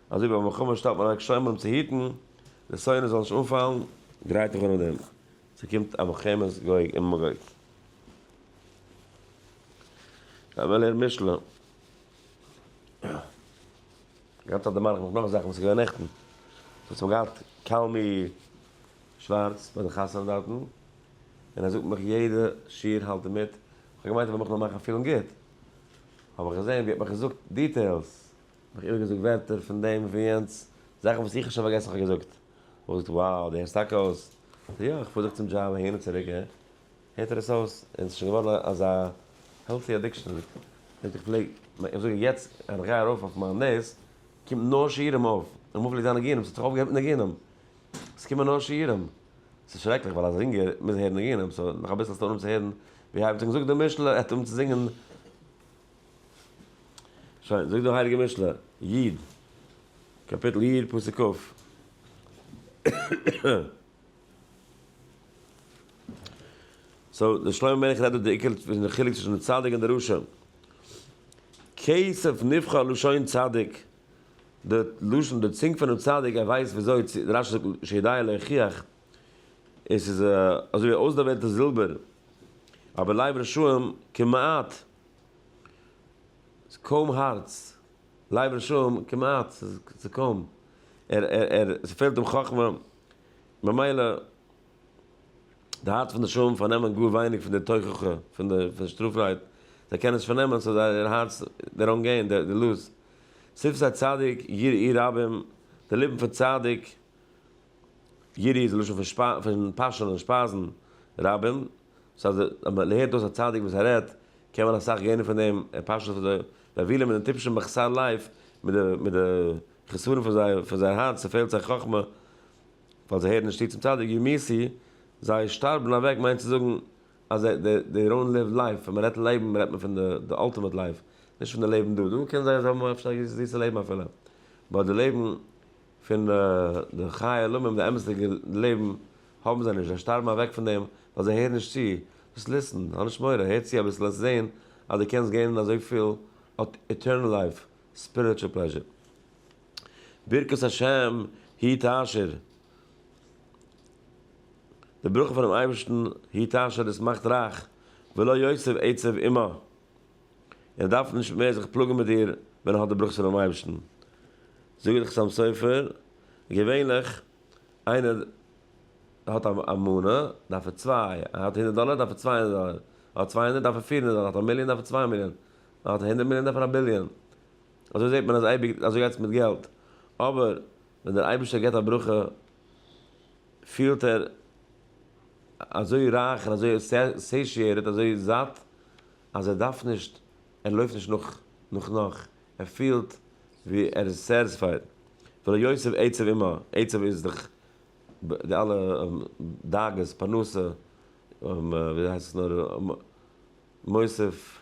אזוי ווי ביי מלחמה שטעלט מען אוועק שומרים צו היטן די שונא זאל נישט אנפאלן. גרייט דיך אן אויף דעם, ס'קומט א מלחמת גוג און מגוג. לאמיר לערנען משלי. גאנץ אט דערמאן איך מיך נאך זאכן וואס איז געווען נעכטן. דארט האט מען געהאט קאלמי שווארץ ביי די חתונה דארטן, און ער זאגט מיך יעדע שיעור האלט ער מיט, איך האב געמיינט ער וועט מיך נאר מאכן פילן גוט, האב איך געזען ווי ער האט מיך געזאגט דיטעילס, מיך איבערגעזאגט ווערטער פון דעם און פון יענץ, זאכן וואס איך האב שוין פארגעסן איך האב געזאגט, האט ער געזאגט, wow, די הערסט טאקע אויס? איך זאג יא, איך פאר זיך צום דזשאב אהין און צוריק, הערט זיך עס אויס עס איז שוין געווארן אזא העלטי אדיקשאן אז איך איך פלעג איך זאג יעצט אז איך גיי ארויף אויף מיין דעיס קומט נאר שיעורים אויף און אמאל פלעגט זיין ניגונים ס'האט זיך אויפגעהערט מיט ניגונים עס קומען נאר שיעורים ס'איז שרעקליך ווייל אז אינגער מוז הערן ניגונים סאו נאך אביסל האסטו אנהויב צו הערן ווי הייבט זיך זאגט די משל ער האט אנהויב צו זינגען שוין זאגט די הייליגע משל איד קאפיטל איד פסוק כב. סאו דער שלמה המלך רעדט דא די עיקר פון די חילוק צווישן די צדיק און די רשע. כסף נבחר לשון צדיק, די לשון די צונג פונעם צדיק ער ווייסט וויאזוי צו, רשי זאגט שידע להוכיח, און ס'איז אזוי ווי אויסדערוועלטע זילבער, אבער לב רשעים כמעט, ס'איז קוים הארץ, לב רשעים כמעט, ס'איז קוים, ער ער ער ס'פעלט אים חכמה. ממילא די הארץ פון די שועלים פארנעמען גאר ווייניג פון די תוכחה פון די פון שטראפרייד, זיי קענען נישט פארנעמען סאו זייער הארץ די ראנג געין די די לוז שפתי צדיק יראי רבים די ליפן פון צדיק יראי איז די לשון פון פון פאשענען שפייזן רבים סאו אז אז מען הערט אויס א צדיק וואס ער רעדט קען מען אסאך געינען פון דעם ער פאשענט אויף די די אבילים און די טיפשע מחסל לייף מיט די מיט די חסרון פון זיי פון זייער הארץ ס'פעלט זיי חכמה ווייל זיי הערן נישט צו צום צדיק ווי מיר סי זיי שטארבן אוועק מיינט צו זאגן אז זיי דעי דעי דאונט ליוו לייף ווען מ'רעדט לעבן רעדט מען פון די די אלטימעט לייף נישט פון די לעבן דא דא קען זיין זיי האבן אפשר א זיסע לעבן אפילו באט די לעבן פון די חיי עולמים די אמת'דיגע לעבן האבן זיי נישט זיי שטארבן אוועק פון דעם ווייל זיי הערן נישט צו דאס ליסטן האב נישט מורא הער צו אביסל העסט זעהן אז די קענסט געינען אזויפיל עטערנעל לייף ספיריטשול פלעזשער. ברכת השם היא תעשיר. די ברכה פונעם אייבערשטן היא תעשיר דאס מאכט רייך, ולא יוסיף עצב עמה. און ער דארף נישט מער זיך פלאגן מיט דיר ווען ער האט די ברכות פונעם אייבערשטן. זאגט די חתם סופר, געווענליך איינער האט א מנה דארף ער צוויי, ער האט הונדערט דאלער דארף ער צוויי הונדערט דאלער, ער האט צוויי הונדערט דארף ער פיר הונדערט דאלער, ער האט א מיליאן דארף ער צוויי מיליאן, מען האט הונדערט מיליאן דארף מען א ביליאן, אזוי זעט מען אז אייביג אזוי גייט עס מיט געלט, אבער ווען דער אייבערשטער געבט א ברכה פילט ער אזוי רייך און אזוי סעשיעטעד אזוי זאט אז ער דארף נישט ער לויפט נישט נאך נאך נאך ער פילט ווי ער איז סערספייד ולא יוסיף עצב עמו, עצב איז דאך די אלע דאגות פרנסה, וויאזוי הייסט עס נאר מוסיף.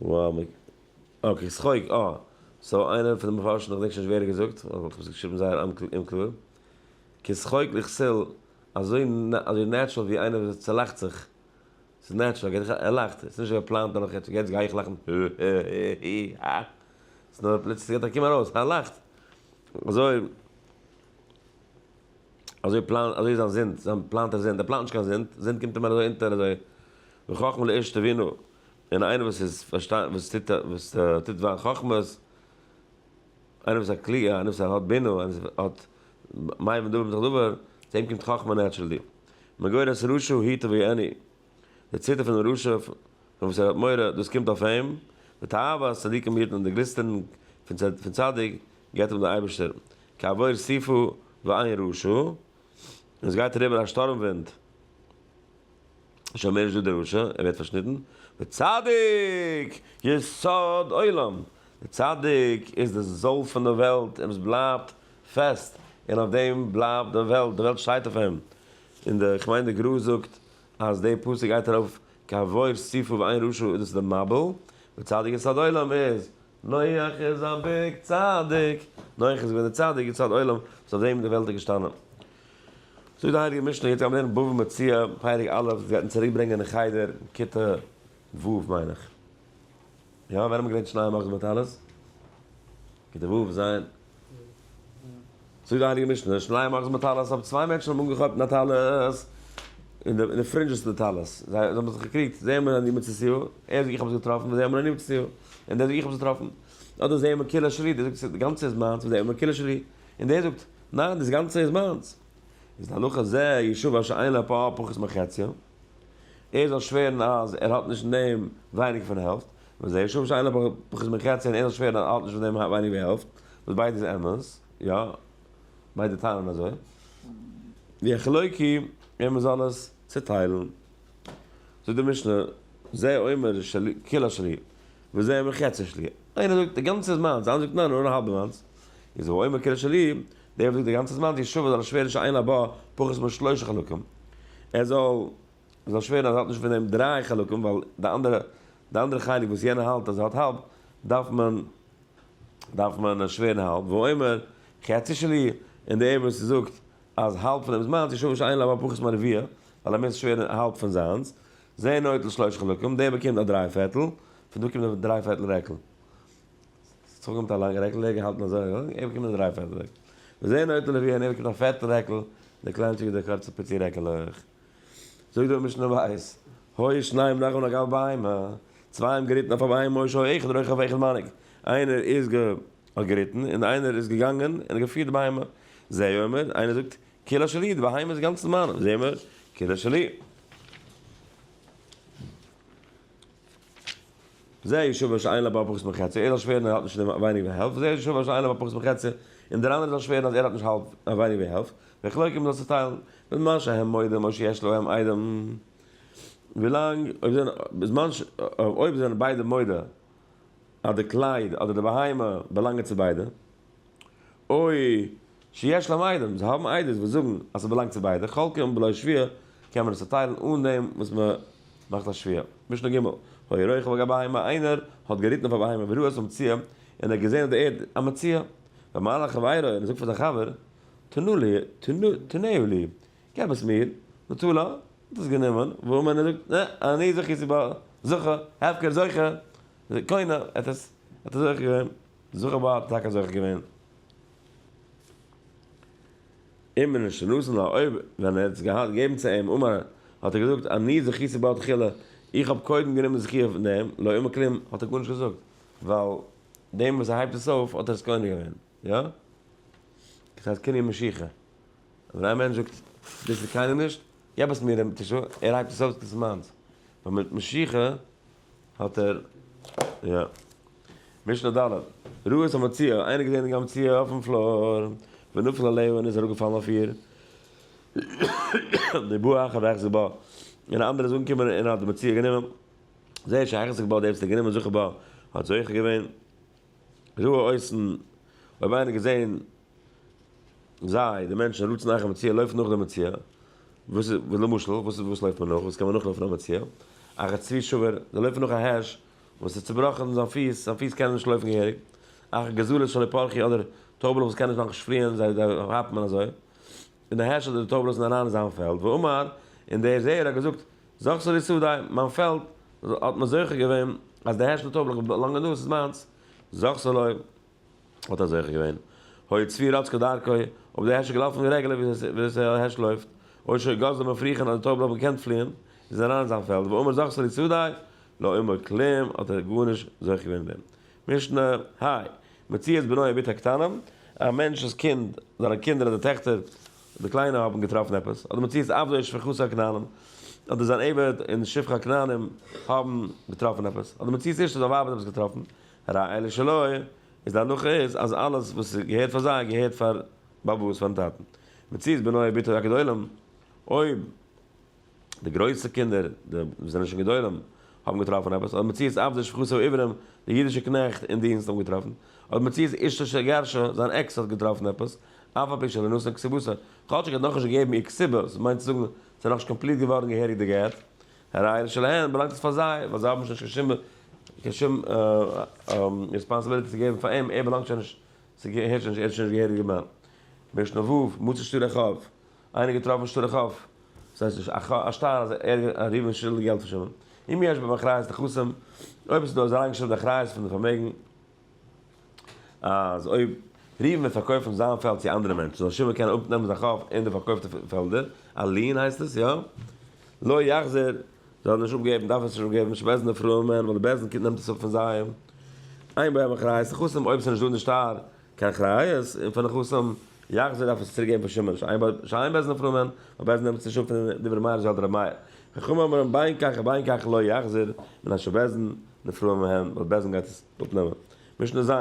וואו מ. אקעי, ס'חוג א. סאו איינער פון די מפרשים, כ'דענק שוין נישט ווער האט געזאגט, אבער איך האב עס געשריבן זייער אומקלאר, כסחוג לכסיל, אזוי אזוי נעטשרעל ווי איינער וואס צעלאכט זיך, ס'איז נעטשרעל, ער געט זיך א, ער לאכט, עס איז נישט געפלאנט אז איך, יעצט גיי איך לאכן, הי-הי-הי-הי-הי, הא. ס'נאר פלוצלינג גייט ער קומען ארויס, הא לאכט. אזוי. אזוי פלאנט אזוי זיין זינד זיין פלאנט ער זינד ער פלאנט נישט קיין זינד זינד קומט אים אזוי אונטער אזוי וחכמה לאיש תבינו און איינער וואס איז פארשטאנד וואס טוט וואס טוט זיין חכמות איינער וואס האט קליע איינער וואס האט בינה איינער וואס האט מים ודבר בתוך דבר צו אים קומט חכמה נעטשרעלי מגורס ראשו היתה והיא אני. די ציטער פונעם רשע פון וואס ער האט מורא, דאס קומט אויף אים, די תאוות צדיקים היטן און די גליסטערן פון צדיק געבט אים דער אייבערשטער, כעבור סיפו ועין ראשו, און עס גייט אריבער א שטורם ווינט, שוין מער נישט דא דער רשע, ער ווערט פארשניטן, וצדיק יסוד עולם, דער צדיק איז די זויל פון די וועלט, און עס בלייבט פעסט, און אויף דעם בלייבט די וועלט, די וועלט שטייט אויף אים, און די כ'מיין די גרא זאגט אז די פסוק גייט ארויף קיין וואוירס צופיל ווי איין רשע איז דאס די מבול, ווי צדיק איז צד עולם איז, נוח איז א ביג צדיק, נוח איז געווען די צדיק ווי צד עולם וואס אויף דעם איז די וועלט איז געשטאנען. זאגט די הייליגע משנה, יעצט גייט מען לערנען בבא מציעא פרק א', עס גייט אונז צוריק ברענגען אין חדר, כיתה ו' מיין איך. יא ווען האבן געווען שניי מאכט דארט אלעס? כדי וואו ז. זאגט די הייליגע משנה שניי מאכט דארט אלעס אויב צוויי מענטשן האבן אנגעכאפט א טלית אין די פרינדזשעס פון די טלית זיי האבן זיך געקריגט זעהן מיר אני מצא סיור ער זאגט איך האב עס געטראפן און זעהן מיר אני מצא סיור און דער זאגט איך האב עס געטראפן אדער זעהן מיר כולו שלי דער זאגט די גאנצע איז מיינס און זעהן מיר כולו שלי און דער זאגט ניין דאס גאנצע איז מיינס איז להלכה ז יישוב אשר אין לו פה פחות מחציו ער זאל שווערן אז ער האט נישט פון דעם ווייניגער פון העלפט, וזה יהיה שוב שאלה בחזמינקציה און ער זאל שווערן אז ער האט נישט פון דעם ווייניגער ווי העלפט, וואס ביידע איז אמת, יא, ביידע טענה'ן אזוי. די חלוקי ווען מען זאל עס צוטיילן. זאגט די משנה, זה אומר שלי, כולו שלי, וזה אומר חצי שלי. איינער זאגט די גאנצע איז מיינס, דער אנדערער זאגט ניין נאר האלב איז מיינס. איז הוא אומר כולו שלי, דער רב זאגט די גאנצע זמן די ישועה זאל עס שווערן שאין לבא פחות משלושה חלקים, ער זאל עס זאל שווערן אז ער האט נישט פון דעם דריי חלקים ווייל די אנדערע די אנדערע חלק וואס יענער האלט אז ער האט האלב דארף מען דארף מען שווערן האלב והוא אומר חצי שלי און דער וואס זאגט אז האלב פון דעם זמן די ישועה שאין לבא פחות מרביע ווייל ער מיז שווערן האלב פון זיינס זה נוטל שלושה חלקים דער באקומט א דריי פערטל פון דא קומט דער דריי פערטל רעקל. ס'צוריק געבן מיט א לאנגע רעקל, דער געהאלטן אזוי און אזוי, ער באקומט די דריי פעטע רעקל. וזעיר נוטה לוי און ער באקומט א פערטע רעקל, די קליינטשיגע די קורצע פיצי רעקל אויך. זאגט דער משנה בית, הוי שניים נחו נגע על בהמה, צוויי האבן געריטן אויף א ביים משה הוי אחד רוכב ואחד מנהיג, איינער איז גע האט געריטן און איינער איז געגאנגען און געפירט די בהמה. זה אומר, איינער זאגט, כולה שלי, די בהמה איז אינגאנצן מיינע, זה אומר, כולה שלי. זה ישוב אשר אין לו בה פחות מחצי, ער זאל שווערן ער האט נישט ווייניגער ווי העלפט, וזה ישוב אשר אין לו בה פחות מחצי, און דער אנדערער זאל שווערן אז ער האט נישט האלב ווייניגער ווי העלפט, ווען כלו קומט זאל צוטיילן, בזמן שהם מודים או שיש להם איידעם, ווילאנג, אויב זענען, בזמן ש, אויב זענען ביידע מודה אז די קלייד אדער די בהמה באלאנגען צו ביידע. אוי, שיש להם עדים, זיי האבן עדות וואס זאגן אז ס'באלאנגט צו ביידע, חלקה און בלא שוויה קען מען עס צוטיילן אן דעם וואס מען מאכט א שוויה. משנה ג', היה רוכב על גב בהמה, איינער האט געריטן אויף א בהמה וראה את המציאה, און ער האט געזען אויף די ערד א מציאה, ואמר לחבירו, און ער זאגט פאר זיין חבר, תנו לי, תנהו לי, געב עס מיר, נטו לו, האט עס גענומען, ווארום איינער זאגט, נע, אני זכיתי בה, זכה, הפקר זוכה, קונה, ער האט עס, ער האט עס זוכה געווען. זיך אבער האט טאקע זוכה געווען אין מן שנתן לה אויב ווען ער האט עס געהאט געבן צו אים אמר האט ער געזאגט אני זכיתי בו תחילה איך האב קודם גענומען זכי' פון דעם לא אומר כלום האט ער גארנישט געזאגט ווייל דעם וואס ער הייבט עס אויף האט ער עס קונה געווען יא דאס הייסט קנין משיכה ווען א מענטש זאגט דאס איז קיינעם נישט געב עס מיר ער הייבט עס אויף דאס איז מיינס ווייל מיט משיכה האט ער יא. משנה ד', רעות המציאה, איינער געזען די המציאה אויפן פלאר, ונפל עליה און איז אראפ געפאלן אויף איר, די בא אחר והחזיק בה, און א אנדערער איז אנגעקומען און האט די מציאה גענומען, זה שהחזיק בה, דער וואס האט גענומען זוכה בה האט זוכה געווען, רעות, אויב איינער געזען. זיי, די מענטשן, רודפ'ן אייך א מציאה, לויפט נאך די מציאה, וואס איז, ווי למשל, וואס איז, וואס לויפט מען נאך, וואס קען מען נאכלויפן א מציאה, א ר' צבי שאווער, זיי לויפן נאך א הערש, וואס איז צובראכן זיין פיס, זיין פיס קענען נישט לויפן געהעריג, א ר' גזלת שלי פרחי, אדער טויבעלעך וואס קענען נישט מאכן שפריען, זיי כאפט מען אזוי, און די הערש אדער די טויבעלעך זענען אריין אין זיין פעלד, ואמר, און דער זעער האט געזאגט, זאגסט לי שדות, מיין פעלד, האט מען זוכה געווען, אז די הערש און די טויבעלעך באלאנגען דא, עס איז מיינס, זאגסט לי, האט ער זוכה געווען. הוי צבי רץ כדרכו, אויב איז דער העשל געלאפן ווי רעגעלע וויאזוי ס'א העש לויפט, אויב שוין גאזלען מיט פריכען אז די טויבן האבן געקענט פליען, איז ער אריין אין זיין פעלד, ואומר זכסא לי צדדי, לא אומר כלום, האט ער גארנישט זוכה געווען אין דעם. משנה, האי, מציאת בנו יביט הקטנם, א מענטש'ס קינד, זיינע קינדער אדער טעכטער, די קליינע האבן געטראפן עפעס, אדער מציאת עבדו איש שפחותו הכנענים, אדער זיין עבד און שפחה הכנענים האבן געטראפן עפעס, אדער מציאת אשתו זיין ווייב האט עפעס געטראפן, ר' אלי שלא, איז די הלכה איז אז אלעס וואס איז געהערט פאר זיי געהערט פאר באבעס פארן טאטן. מציאות בנו אבי ביתו יקד עולם, אויב די גרויסע קינדער די וואס זענען שוין גדולים האבן געטראפן עפעס, אדער מציאות עבדי שפחותו עיוורים, די אידישע קנעכט אין דינסט האבן געטראפן, אדער מציאות אשתו שגרשה, זיין עקס האט געטראפן עפעס, אף על פי שלא נתן כסיבותו, כאטשיג ער האט נאכנישט געגעבן איר כסיבות, מיינט צו זאגן ס'איז נאכנישט קאמפליט געווארן געהעריג די גט, הרי שלהן באלאנגט עס פאר זיי, ווייל זיי האבן שוין נישט קיין שום ריספאנסעבילטי צו געבן פאר אים, ער באלאנגט שוין נישט, ס'געהערט שוין נישט, ער איז שוין נישט געהעריגער מאן. משנה ו', מוצא שטר א חוב, איינער געטראפן שטר א חוב, ס'הייסט נישט א שטר אז ראובן איז שולדיג געלט פאר שמעון, אם יש בהם אחריות נכסים, אויב עס איז דא אזא איינגעשריבענע אחריות פון די פארמעגן, אז אויב ריווען וועט פארקויפן זיין פעלד צו אנדערע מענטשן זאל שמעון קענען אפנעמען זיין חוב אין די פארקויפטע פעלדער, א ליען הייסט עס יא? לא יחזיר, זאל נישט אפגעבן, דארף עס נישט אפגעבן, שמעזן די פרויען מען, ווייל די בעלזן קינד נעמט עס אפ פון זיי, איין ביים אחראי איז חתום אויב עס איז נישט דא אין די שטר קיין אחריות און פון די חתום יחזיר דארף עס צוריק געבן פאר שמעון שוין איין בעלזן פרויען מען, ווייל בעלזן נעמט עס נישט אפ פון די דברי מהרש ל דרבי מאיר, חכמים אומרים בין כך ובין כך לא יחזיר, מן השבעזן די פרויען מען, ווייל בעלזן גייט עס. אפנעמען. משנה ז',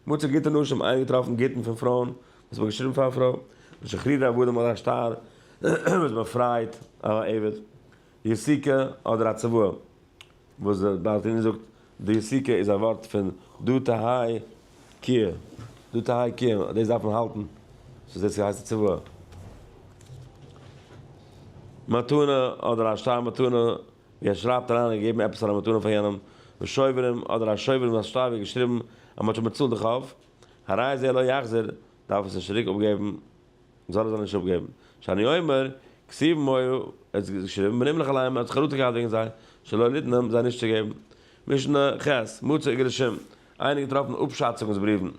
מצא גוטע נשים, איינגעטראפן גוטן פון פרויען, וואס מ'האט געשריבן פאר א פרוי, משחררי עבדים אדער א שטר וואס באפרייט א עבד, יסיקה אדער א צוואה, וואס דער בעל תניא זאגט, די יסיקה איז א ווארט פון דו תהאי קיה, דו תהאי קיה, דאס דארף מען האלטן, סאו דאס הייסט א צוואה. מתנה אדער א שטר מתנה. ווי ער שרייבט אריין און געבן עפעס פאר א מתנה פאר יענעם, ושובערים אדער א שובר און זיין שטייווע געשריבן אז מ'האט שוין באצאלט די חוב, הרי זה לא יחזיר, דארף עס נישט צוריק אפגעבן, זאל ער זיי נישט אפגעבן, שאני אומר, כסיב מוה, ער האט געשריבן, ונמלך עליהם, ער האט זיך חרטה געהאט וועגן זיי, שלא ליתנם, זיי נישט צו געבן. משנה ח', מוצא איגרשים, איינער געטראפן אפשאצונגס בריוון,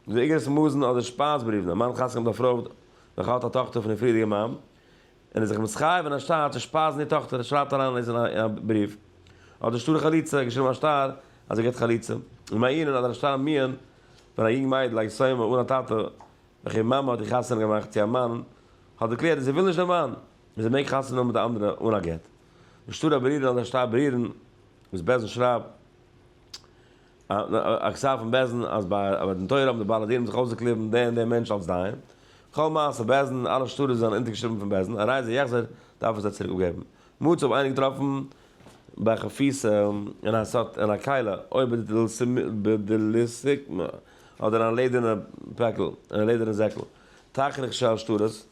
די איגרות מאזן אדער שפייז בריוון, א מאן חתמ'ט אויף רוב נאך האלט א טאכטער פון די פריערדיגע מאן, און איז זיך מתחייב אין א שטר צו שפייזן איר טאכטער און שרייבט אריין אליינס אין א בריוו אויף די שטר חליצה געשריבן א שטר אז זי געט חליצה און מעיין אדער א שטר מעיין ווען א יונג מיידל א יתומה אן א טאטע וכו' מאמע האט איר חתונה געמאכט צו א מאן האט דערקלערט אז זי וויל נישט דעם מאן און זי מעג חתונה האבן מיט די אנדערע אן א גט די שטר הברירן אדער שטר ברירן וואס בעלזן שרייבט א כתב פון בעש ט אז ביי א מתן תורה האבן די בעלי דינים זיך אויסגעקליבן דעם און דעם מענטש אלס דיין. כל מעשה בעש ט, אלע שטרות זענען אונטערגעשריבן פון בעש ט, א רייזער יחזור דארף עס זיי צוריק אפגעבן. מ צ האב איינער געטראפן ביי א חפיסה אין א סת אין א קהלה, אויב איז דאס בדליסק מ, אדער אין א לעדערנע פעקל, אין א לעדערנע זעקל, תכריך שעל שטרות.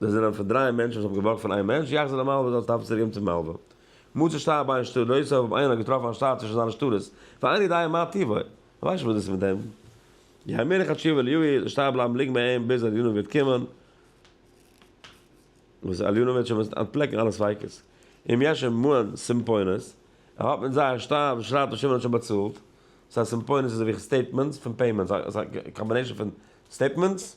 זיי זענען פון דריי מענטשן וואס האבן געבארגט פון איין מענטש, יחז למלווה זאל עס טאפן צוריקגעבן צום מלווה. מוצש ת א ביין שטר נוסף האב איינער געטראפן א שטר צווישן זיינע שטרות, ואין ידעי מה טיבו, איך ווייס נישט וואס דאס איז מיט דעם. יהמיר לך תשובה ליהוי, זאל די שטר בלייבן ליגן ביי אים ביז עליונה וועט קומען, וואס עליונה וועט שוין מוזן אנטפלעקן אלע ספיקות. אם יש עמהן סומפונות, ער האט מיט זיי א שטר וואס שרייט אז שמעון האט שוין באצאלט, סא סומפונות איז אזויווי סטעיטמענטס פון פעימענטס, א קאמבינעישאן פון סטעיטמענטס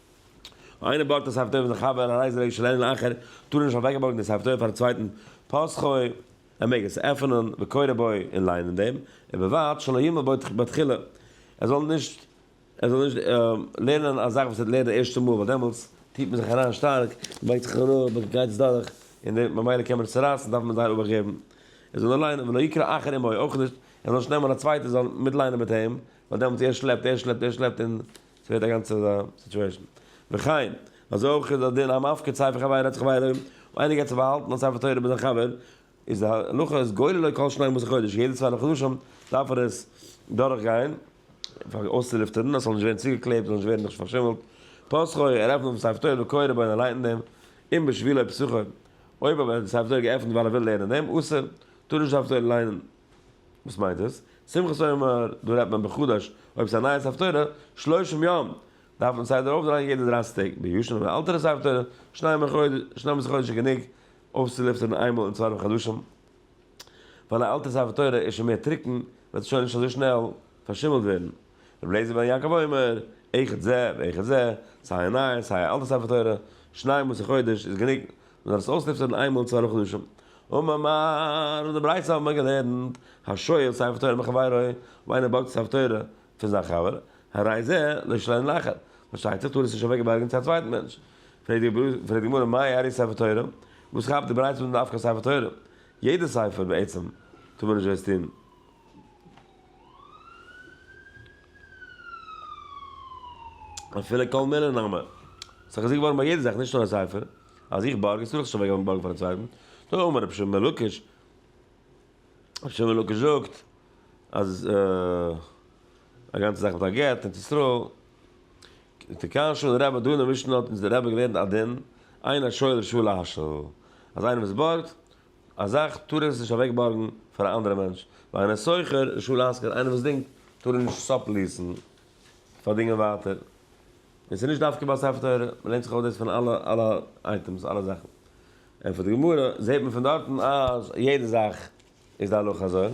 איינער בארגט א ספר תורה פאר זיין חבר, א רייזער אויב שוין איינער אחר, טאר ער נישט אוועקבארגן די ספר תורה פארן צווייטן פאסכוי, ער מעג עס עפענען וקורא בו און ליינען דעם, ובלבד שלא ימל בו בתחילה, ער זאל נישט ער זאל נישט לערנען א זאך וואס ער האט לערנט די ערשטע מאל, ווייל דעמאלטס טוט מען זיך אריין שטארק, מען בייגט זיך אראפ, מען גייט עס דורך, און דער ממילא קען מען עס צורייסן, דארף מען זייער אבאכט געבן, ער זאל נאר ליינען, ולא יקרא אחר עמו, אויך נישט, ער זאל נישט נעמען א צווייטער זאל מיט ליינען מיט אים, ווייל דעמאלטס ער שלעפט, ער שלעפט, ער שלעפט, און. ס'ווערט א גאנצע סיטועישן. וכן, אזוי אויך איז א דין המפקיר ספר חבר רצח חבירו, אויב איינער געבט צו באהאלטן א ספר תורה ביי זיין חבר, איז די הלכה אז גולה לו כל שנים עשר חודש, יעדע צוויי חדשים דארף ער עס דורכגיין, אויסצולופטערן, אז ס'זאל נישט ווערן צוגעקלעבט, ס'זאל נישט ווערן נישט פארשימלט, פסחו, ער עפנט אויף די ספר תורה וקורא בו און ער ליינט אין דעם, אם בשבילו פסחו, אויב אבער האט ער די ספר תורה געעפנט ווייל ער וויל לערנען אין דעם, אסור, טאר נישט די ספר תורה ליינען. וואס מיינט עס? שמחת עומר, דא רעדט מען בחדש, אויב ס'איז א נייעס הפטורה, שלושים יום, דארף מען סדר אויפדרייען יעדע דרייסיג טעג, ביושן און אלטערע סייעס הפטורה, שנים און חודש איז גענוג אויסצולופטערן איינמאל אין צוואנעף חדשים, ווייל א אלטע סייעס הפטורה איז שוין מער טרוקן, וועט עס שוין נישט אזוי שנעל פארשימלט ווערן. רבי אליעזר בן יעקב אומר, איכות זה ואיכות זה, סיי א נייע סיי א אלטע ספר תורה, שניי מסי חודש איז גענוג, מען דארף עס אויסלופטערן איינמאל אין צוויי חדשים. אממער, אין די ברייתא האבן מיר געלערנט, השואל ספר תורה מחברו, אויב איינער בארגט ספר תורה פון זיין חבר, הרי זה לא ישלנו לאחר, פארשטייט זיך טאר ער עס נישט אוועק בארגן צו א צווייטן מענטש. פרעגט די גמרא מאי ארי ספר תורה, וואס כאפט די ברייתא מיט דווקא ספר תורה? יעדע ספר בעצם טאר מען נישט דאס טון. אפילו קאל מיללער נאמען. ס'איז דאך געזאגט געווארן ביי יעדע זאך, נישט נאר א ספר, אז איך בארג, איז ס'דאך שוין אוועק געווארן בארגן פארן צווייטן. נו, אמר רבי שמעון מלוקש. רבי שמעון מלוקש זאגט אז א גאנצע זאך מיט א גט אין תוסרו. תקן שולן רב דאן אין משנה האט אונז דער רבי געלערנט א דין, אין השואל רשאי להשל. אז איינער וואס בארגט. א זאך טאר ער עס נישט אוועק בארגן פאר א אנדערע מענטש, ווייל איינער שוכר די שול אזקער איינער וואס דינגט טאר ער נישט סאפליסן פאר דינגען ווייטער, און ס'נישט דווקא ביי ספר תורה, מ'לערנט זיך אויס דאס פון אלע אלע אייטעמס אלע זאכן, און פון די גמרא זעהט מען פון דארטן אז יעדע זאך איז די הלכה אזוי,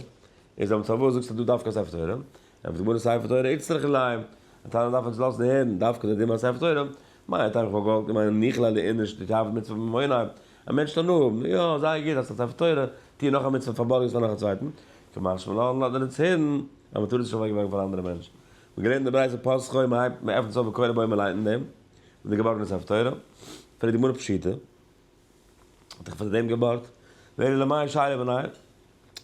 איז אבער פארוואס זאגסטו דא דווקא ספר תורה, ענטפערט די גמרא ספר תורה איצטרך ליה, א טענה דארף מען זיך לאזן הערן דווקא די דין ביי ספר תורה, מה ייתכן איך וואלט געמיינט אז מיכאל אלי איז נישט די טייפ מצוה ממונם, א מענטש טאר נאר האבן, יא זייער גוט האסט א ספר תורה, טוה נאך א מצוה פארבארגן עס פאר נאך א צווייטן, כמשמע לאן לאט מען אונז הערן אז מען טאר עס נישט אוועק ווערן פאר אנדערע מענטשן, מען געלערנט די ברייתא פסחא און מען הייבט מען עפנט עס אויף וקרא בו מ'ליינט אין דעם מיט די געבארגענע ספר תורה, פרעגט די גמרא פשיטא האט ער פאר דעם געבארגט, ואלא למאי שיירא בניי,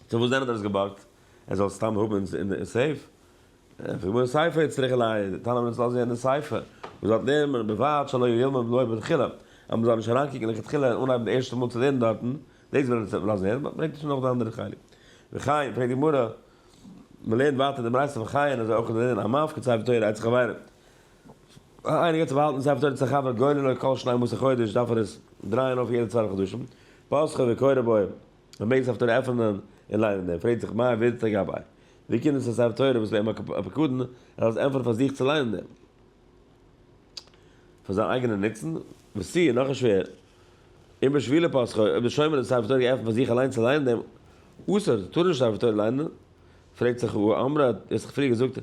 צו וואס דען האט ער עס געבארגט, ער זאל עס סתם האבן אין סעיף, איך בין געווארן ספר יצרי כלאי, די תנא מנסה לאזן יעדן ספר וואס זאל לערנען בלבד שלא ילמד בו מלכתחילה, אז מ'זאל נישט אריינקוקן לכתחילה און אנהייבן די ערשטע מאל צו לערנען דארטן, דאס וויל ער נישט לאזן לערנען, באט ברענגט ער שוין נאך די אנדערע חלק. וכן, פרעגט די גמרא, מ'לערנט ווייטער די ברייתא וכן אזוי אויך איז ענין המפקד את ספר תורה אצל חברים. אויב איינער געבט צו באהאלטן ספר תורה אצל א חבר גולל לו כל שני מאות החודש דארף ער עס דרייען אויף יעדע צוואנציג חדשים, פסחא וקורא באו. מען מעג ספר תורה עפענען און ליינען ער פרעגט זיך מה הווירדס לגבי ווי קומט דאס אז ספר תורה וואס אים האט אפיקורן ער האט עס ענפערט פאר זיך צו ליינען דעם פאר זיין אייגענע נוצן וסי און נאך שווער און בשבילי פסחא אויב די שומר האט ספר תורה געעפנט פאר זיך אליין צו ליינען דעם אסור טאר נישט ספר תורה ליינען פרעגט זיך הוא אמרה האט ער זיך פריער געזאגט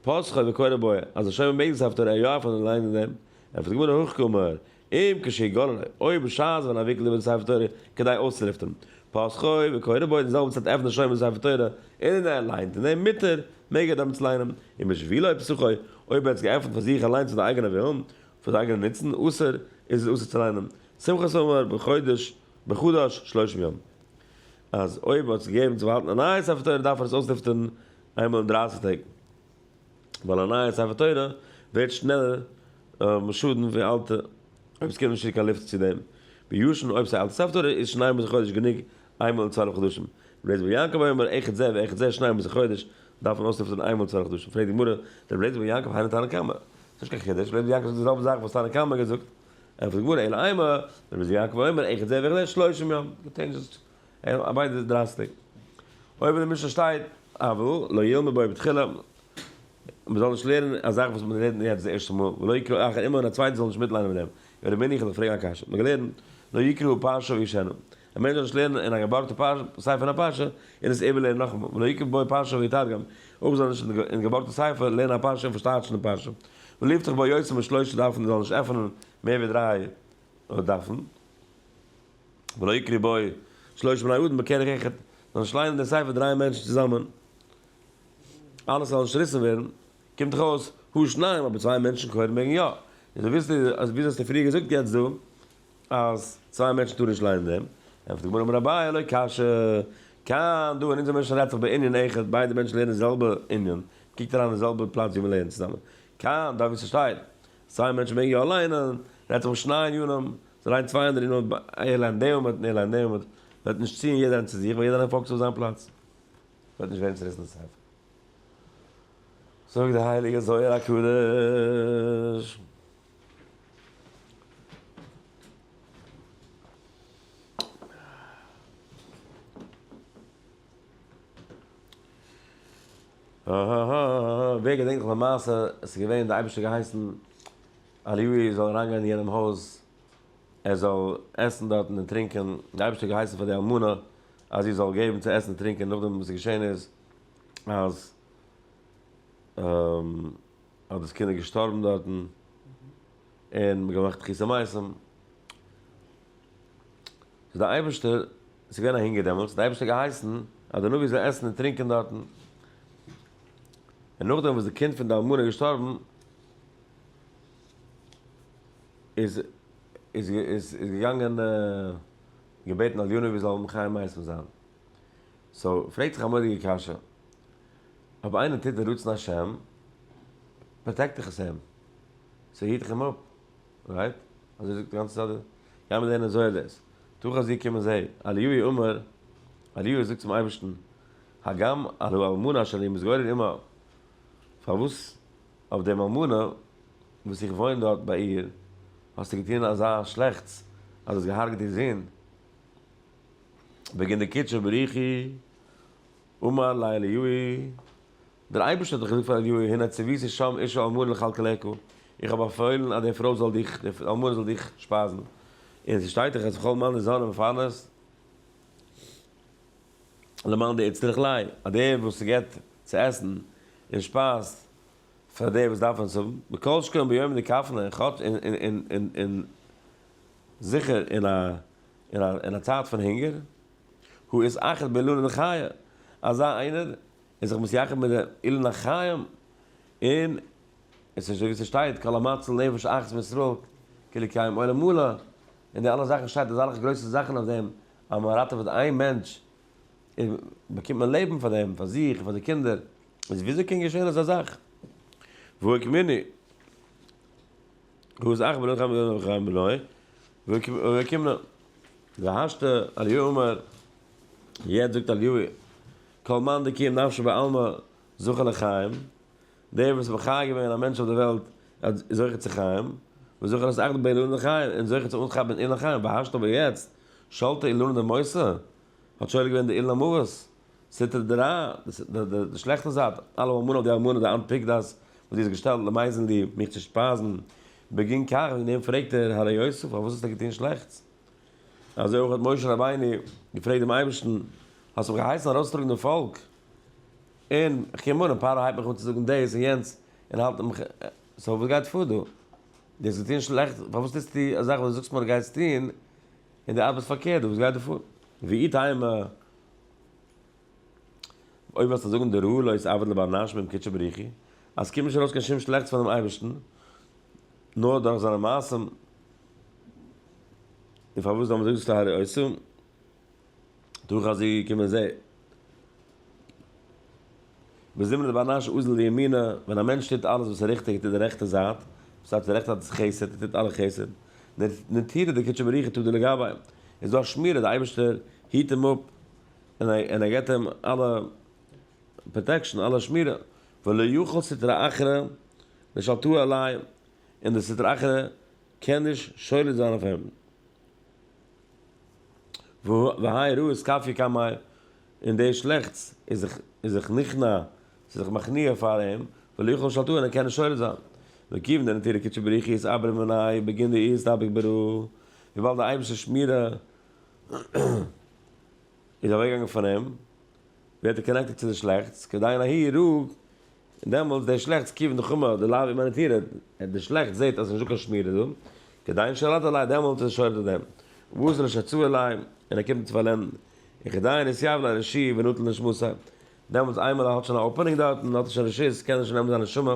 פסחא וקורא בו אז די שומר מעגן ספר תורה יא עפענען און ליינען דעם ענפערט די גמרא הויך כומר אם כשיגון עלי, אויב בשעת ווען ער וויקלט איבער די ספר תורה כדי אויסצולופטערן פסחו וקורא בו אין די זעלבע צייט עפנט ער שוין די ספר תורה און ער ליינט אין דעם מותר מעג ער דעמאלטס ליינען אם בשבילו פסחו, אויב ער האט עס געעפנט פאר זיך אליינס פאר די אייגענע ווילן, פאר די אייגענע נוצן, אסור, איז עס אסור צו ליינען שמחת עומר בחודש בחדש שלושים יום, אז אויב ער האט זיך געגעבן צו באהאלטן א נייע ספר תורה דארף ער עס אויסלופטערן איינמאל אין דרייסיג טעג. ווייל א נייע ספר תורה ווערט שנעלער משודן ווי אלטע אויב עס קומט נישט צו קיין לופט צו דעם ביושן אויב ס'איז א אלטע ספר תורה איז שניי מיט א חודש גענוג איינמאל אין צוואלף חדשים ר' זבולון יעקב היה אומר אחד זה ואחד זה שניי מיט א חודש דארף מען אויסלופטערן איינמאל אין צוואלף חדשים פרעגט די גמרא דער ר' זבולון יעקב היינו תנא קמא ס'נישט קיין חידוש ר' זבולון יעקב זאגט די זעלבע זאך וואס תנא קמא האט געזאגט ענטפערט די גמרא אלא אימה ר' זבולון יעקב היה אומר אחד זה ואחד זה שלושים יום און ביידע איז דרייסטיג. אויב אין די משנה שטייט אבל לא ילמד בו בתחילה, מען זאל נישט לערנען א זאך וואס מען לערנט יעצט די ערשטע מאל, ולא יקרא אחר עמו און א צווייטער זאל נישט מיטליינען מיט אים, ווער בין איך אז איך פרעג א קשיא? מען האט געלערנט לא יקרא פרשה וישנה, א מענטש זאל נישט לערנען אין א געבארגטע ספר א פרשה און עס איבערלערנען נאכאמאל, ולא יקרא בו פרשה ויתרגם, אויך זאל ער נישט אין די געבארגטע ספר לערנען א פרשה און פארשטייטשן די פרשה, ולא יפתח בו יותר משלושה דפים, ער זאל נישט עפענען מער ווי דריי דפים. ולא יקרי בו שלושה בני אדם בכרך אחד, זאלן נישט ליינען דעם ספר דריי מענטשן צוזאמען, אלעס זאל נישט צעריסן ווערן, קומט דאך אויס הא שניים, אבער צוויי מענטשן כהן מעגן יא, איז דו וויסט אז וויאזוי האסטו פריער געזאגט יעצט דא אז צוויי מענטשן טארן נישט ליינען דעם, ענטפערט די גמרא אמר אביי לא קשיא, כאן דא אין אונזער משנה רעדט זיך בענין אחד, ביידע מענטשן לערנען די זעלבע ענין, קוקט אריין אין די זעלבע פלאץ ווי מען לערנט צוזאמען, כאן דא ווי ס'שטייט סיי מענטשן מעגן יא ליינען, רעדט זיך פון שניי און ים, זיי לייענען צוויי אנדערע און אויב ער לייענט דעם און ער לייענט דעם וועט נישט ציען יעדער איינער צו זיך, וועט יעדער איינער פאוקעסן אויף זיין פלאץ, וועט נישט ווערן צוריסן די ספר. זאגט דער הייליגער זוהר הקדוש. אהההה ווער געדענקט נאך די מעשה עס איז געווען די אייבערשטער געהייסן אליהו זאל אריינגיין אין יענעם הויז ער זאל עסן דארטן און טרינקען די אייבערשטער געהייסן פאר די אלמנה אז זי זאל געבן צו עסן און טרינקען נאכדעם וואס געשען איז אז אז דאס קינד איז געשטארבן דארטן און מען האט געמאכט תחי' המתים איז די אייבערשטער עס איז געווען א הונגער דעמאלטס, די אייבערשטער האט געהייסן אז די נביא זאל עסן און טרינקען דארטן, און נאכדעם וואס די קינד פון די אלמנה איז געשטארבן, איז איז איז איז געגאנגען געבעטן אז די נביא זאל מחיה מייסם זיין. סאו, פרעגט זיך א מורא'דיגע קשיא, אויב איינער טוט די רצון השם, פראטעקט דאך עס אים, ס'היט דאך אים אפ, רייט? אזוי זאגט די גאנצע סדר? גייען מיר זעהן אזוי אז דאס. תוך הזיע קומען זיי, אליהו אומר, אליהו זאגט צום אייבערשטן, הגם על האלמנה אשר אני מתגורר עמה, פארוואס אויף דעם אלמנה וואס איך וואוין דארט ביי איר, האסטו געטון אזא שלעכטס אז האסט געהארגעט איר זון? בגין דקידשא בריחי, אמר ליה אליהו, דער אייבערשטער האט דאך געזאגט פאר אליהו הנה ציוויתי שם אשה אלמנה לכלכלך, איך האב באפוילן אז די פרוי זאל דיך, די אלמנה זאל דיך שפייזן, און עס שטייט דאך אז כל מנה זאנה מפרנס למען די יצטרך ליה, אז דער וואס גיבט צו עסן און שפייזט פאר דער וואס דארף עס האבן, וכל שכן ביום דקפנה, כאטש און זיכער אין א צייט פון הונגער, הוא איז אחד בעילולין חיה, אזא איינער און זיך מתייחד מיט די אילן החיים, און עס איז ווי ס'שטייט כל המציל נפש אחת מישראל כאילו קיים עולם מלא, און די אלע זאכן שטייט אזאלכע גרויסע זאכן אויף דעם אז מען ראטעוועט איין מענטש איז באקומט מען לעבן פאר דעם פאר זיך און פאר די קינדער, איז וויאזוי קען געשען אזא זאך? והוא הקמני הוא זאך בלא חמי ולא חמי בלא והוא הקמנה והשתא אליהו אומר יעצט זאגט אליהו. כל מאן דכיר נפשו בעלמא זכה לחיים, דער וואס איז מחיה געווען א מענטש אויף דער וועלט איז זוכה צו חיים, וזוכה לס אכ ד באילנא דחיי, און זוכה צו אנכאפן אילן חיים, והשתא אבער יעצט, שלטא אילנא דמאוסא, האט שולט געווען די אילן המוות, סטרא דרא, די שלעכטע זייט, אלא וואו אמאל האט די אלמנה די אנט פיקדאס וואס זי האט געשטעלט למייזן ליב מיך צו שפייזן, בגין כך וועגן דעם פרעגט ער הר ר יוסף פארוואס האסטו געטון שלעכטס, אזוי אויך האט משה רבינו געפרעגט דעם אייבערשטן, האסט מיך געהייסן ארויסטראגן דעם פאלק, און איך קום אן און פרעה הייבט מיך אן צו זאגן דאס און יענץ, און האלט מיך, סאו וואס גייט פאר דא? דו האסט געטון שלעכטס, פארוואס טוסטו א זאך וואס דו זאגסט מיר גייסט טון, און דו ארבעסט פארקערט דא, וואס גייט דא פאר? ואי טעמא, אויב וועסטו זאגן די ראה לא עבד לבעל נש בין קדשי בריחי, אז ס'קומט נישט ארויס קיין שום שלעכטס פונעם אייבערשטן, נאר דורך זיינע מעשים, און פארוואס זאל מען זאגן ס'איז טהרה אסור? דורך אז זי איז געקומען זי. בזמנו באנאש אוזל לימינה, ווען א מענטש טוט אלעס וואס איז ריכטיג און טוט די רעכטע זייט, דאס הייסט די רעכטע זייט איז חסד, ער טוט אלע חסד, נתירה דקדשא בריחתא דלא גבאי, איז דא א שמירה, די אייבערשטער היט אים אפ און ער געבט אים אלע פראטעקשאן, אלע שמירה, ולא יוכל סטרא אחרא לשלטו עלי, און די סטרא אחרא קען נישט שולט זיין אויף אים. והאי רעות כפי קמאי, און די שלעכטס איז זיך נכנע, ס'איז זיך מכניע פאר אים, ולא יכול שלטו און ער קען נישט שולט זיין. וכיוון דנתירא קדשא בריך איז אברי מנאי בגין די איסתפק ברע, וויבאלד די אייבערשטער'ס שמירה, איז אוועק געגאנגען פון אים, ווערט ער קאנעקטעד צו די שלעכטס, כדיין ההיא יראו, און דעמאלטס דער שלעכטס כיוון נחמה די לאו אימאניטירע, די שלעכטס זעהט אז ס'איז נישט דא קיין שמירה דא, כדיין שרד עלי, דעמאלטס איז ער שורד אויף דעם, ובזה לא שצו עלי, און ער קומט נישט צו פארלענדן, און כדיין התייב לה רשי ונטל נשמתה, דעמאלטס איינמאל ער האט שוין א אפענינג דארטן, האט ער שוין רשות, קען ער שוין נעמען זיין נשמה,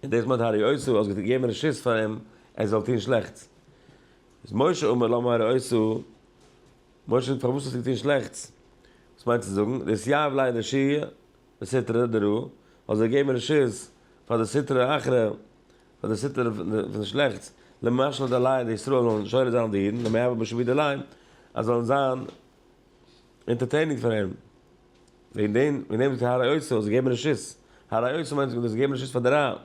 און דאס מיינט הרי עשו, האסט געגעבן רשות פאר אים ער זאל טון שלעכטס. איז משה אומר למה הרע עשה, משה זאגט פארוואס האסטו געטון שלעכטס, וואס מיינט צו זאגן, די סייעוו לייען די שו ע בסתר ד ר, און זיי געבן רשות פאר די סטרא אחרא, פאר די סטרא פון די שלעכטס, למשל די לייען די ישראל זאלן שורד זיין די אידן, למה יעבור משה ווי די לייען אז זאלן זיין אינטערטעיניג פאר אים, וועגן דעם זאגט ער הרע עשה, זיי געבן רשות, הרע עשה מיינט זיי געבן רשות פאר די רע,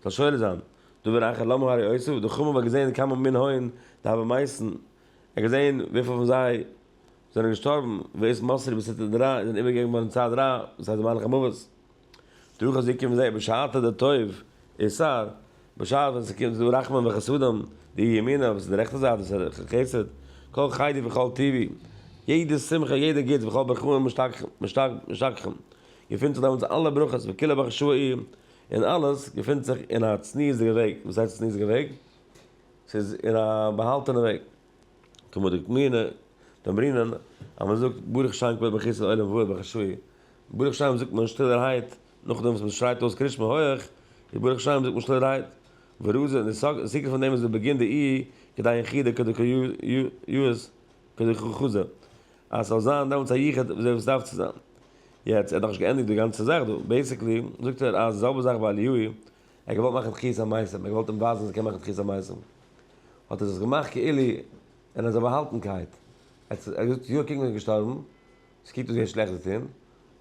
זאל שולע זיין, דא בין איך לא מהרי אוסיף, דער חמור האט געזעהן כמה מן הון די האבען מייסן, ער האט געזעהן וויפיל פון זיי זענען געשטארבן, ואת מסרי בסתר דרא און זענען איבערגעגעבן געווארן צד רע, דאס הייסט די מלאך המוות, דורך אז זיי קומען זיי בשעתא דטוב איסר, בשעת ווען עס איז דא רחמים וחסדים, די ימינה וואס איז די רעכטע זייט וואס איז חסד, כל חיידי וכל טובי, יעדע שמחה יעדע גוטס וכל ברכיהם משתכחים, געפינט זיך דעמאלטס אלע ברכות וכולא בך שוה אי, און אלעס געפינט זיך אין א צניעות'דיגע וועג, וואס הייסט צניעות'דיגע וועג? ס'איז אין א באהאלטענע וועג, כמו דקמינא דאמרינן אז מען זאגט ברוך שם כבוד מחיסל עולם והוא בחשאי, ברוך שם זאגט מען שטילערהייט, נאכדעם וואס מען שרייט אויס קרית שמע הויעך, איז ברוך שם זאגט מען שטילערהייט, וראה זה, און די סיקרא פון דעם איז די בגין דאי כדאי אין חידה כדקא י, י, יז, כדכוכא ז. אז ס'זאל זיין דעמאלטס א יחוד ווי אזוי עס דארף צו זיין. יעצט, ער האט נאך נישט געענדיגט די גאנצע זאך דא. בעיסיקלי, זאגט ער אז די זעלבע זאך ביי אליהו, ער האט געוואלט מאכן תחיית המתים, ער האט געוואלט אים ווייזן אז ער קען מאכן תחיית המתים, האט ער דאס געמאכט כאילו אין אזא באהאלטנקייט. ער האט געזאגט, יא, קוק מען איז געשטארבן, עס קוקט אויס ווי ער האט שלעכטס געטון,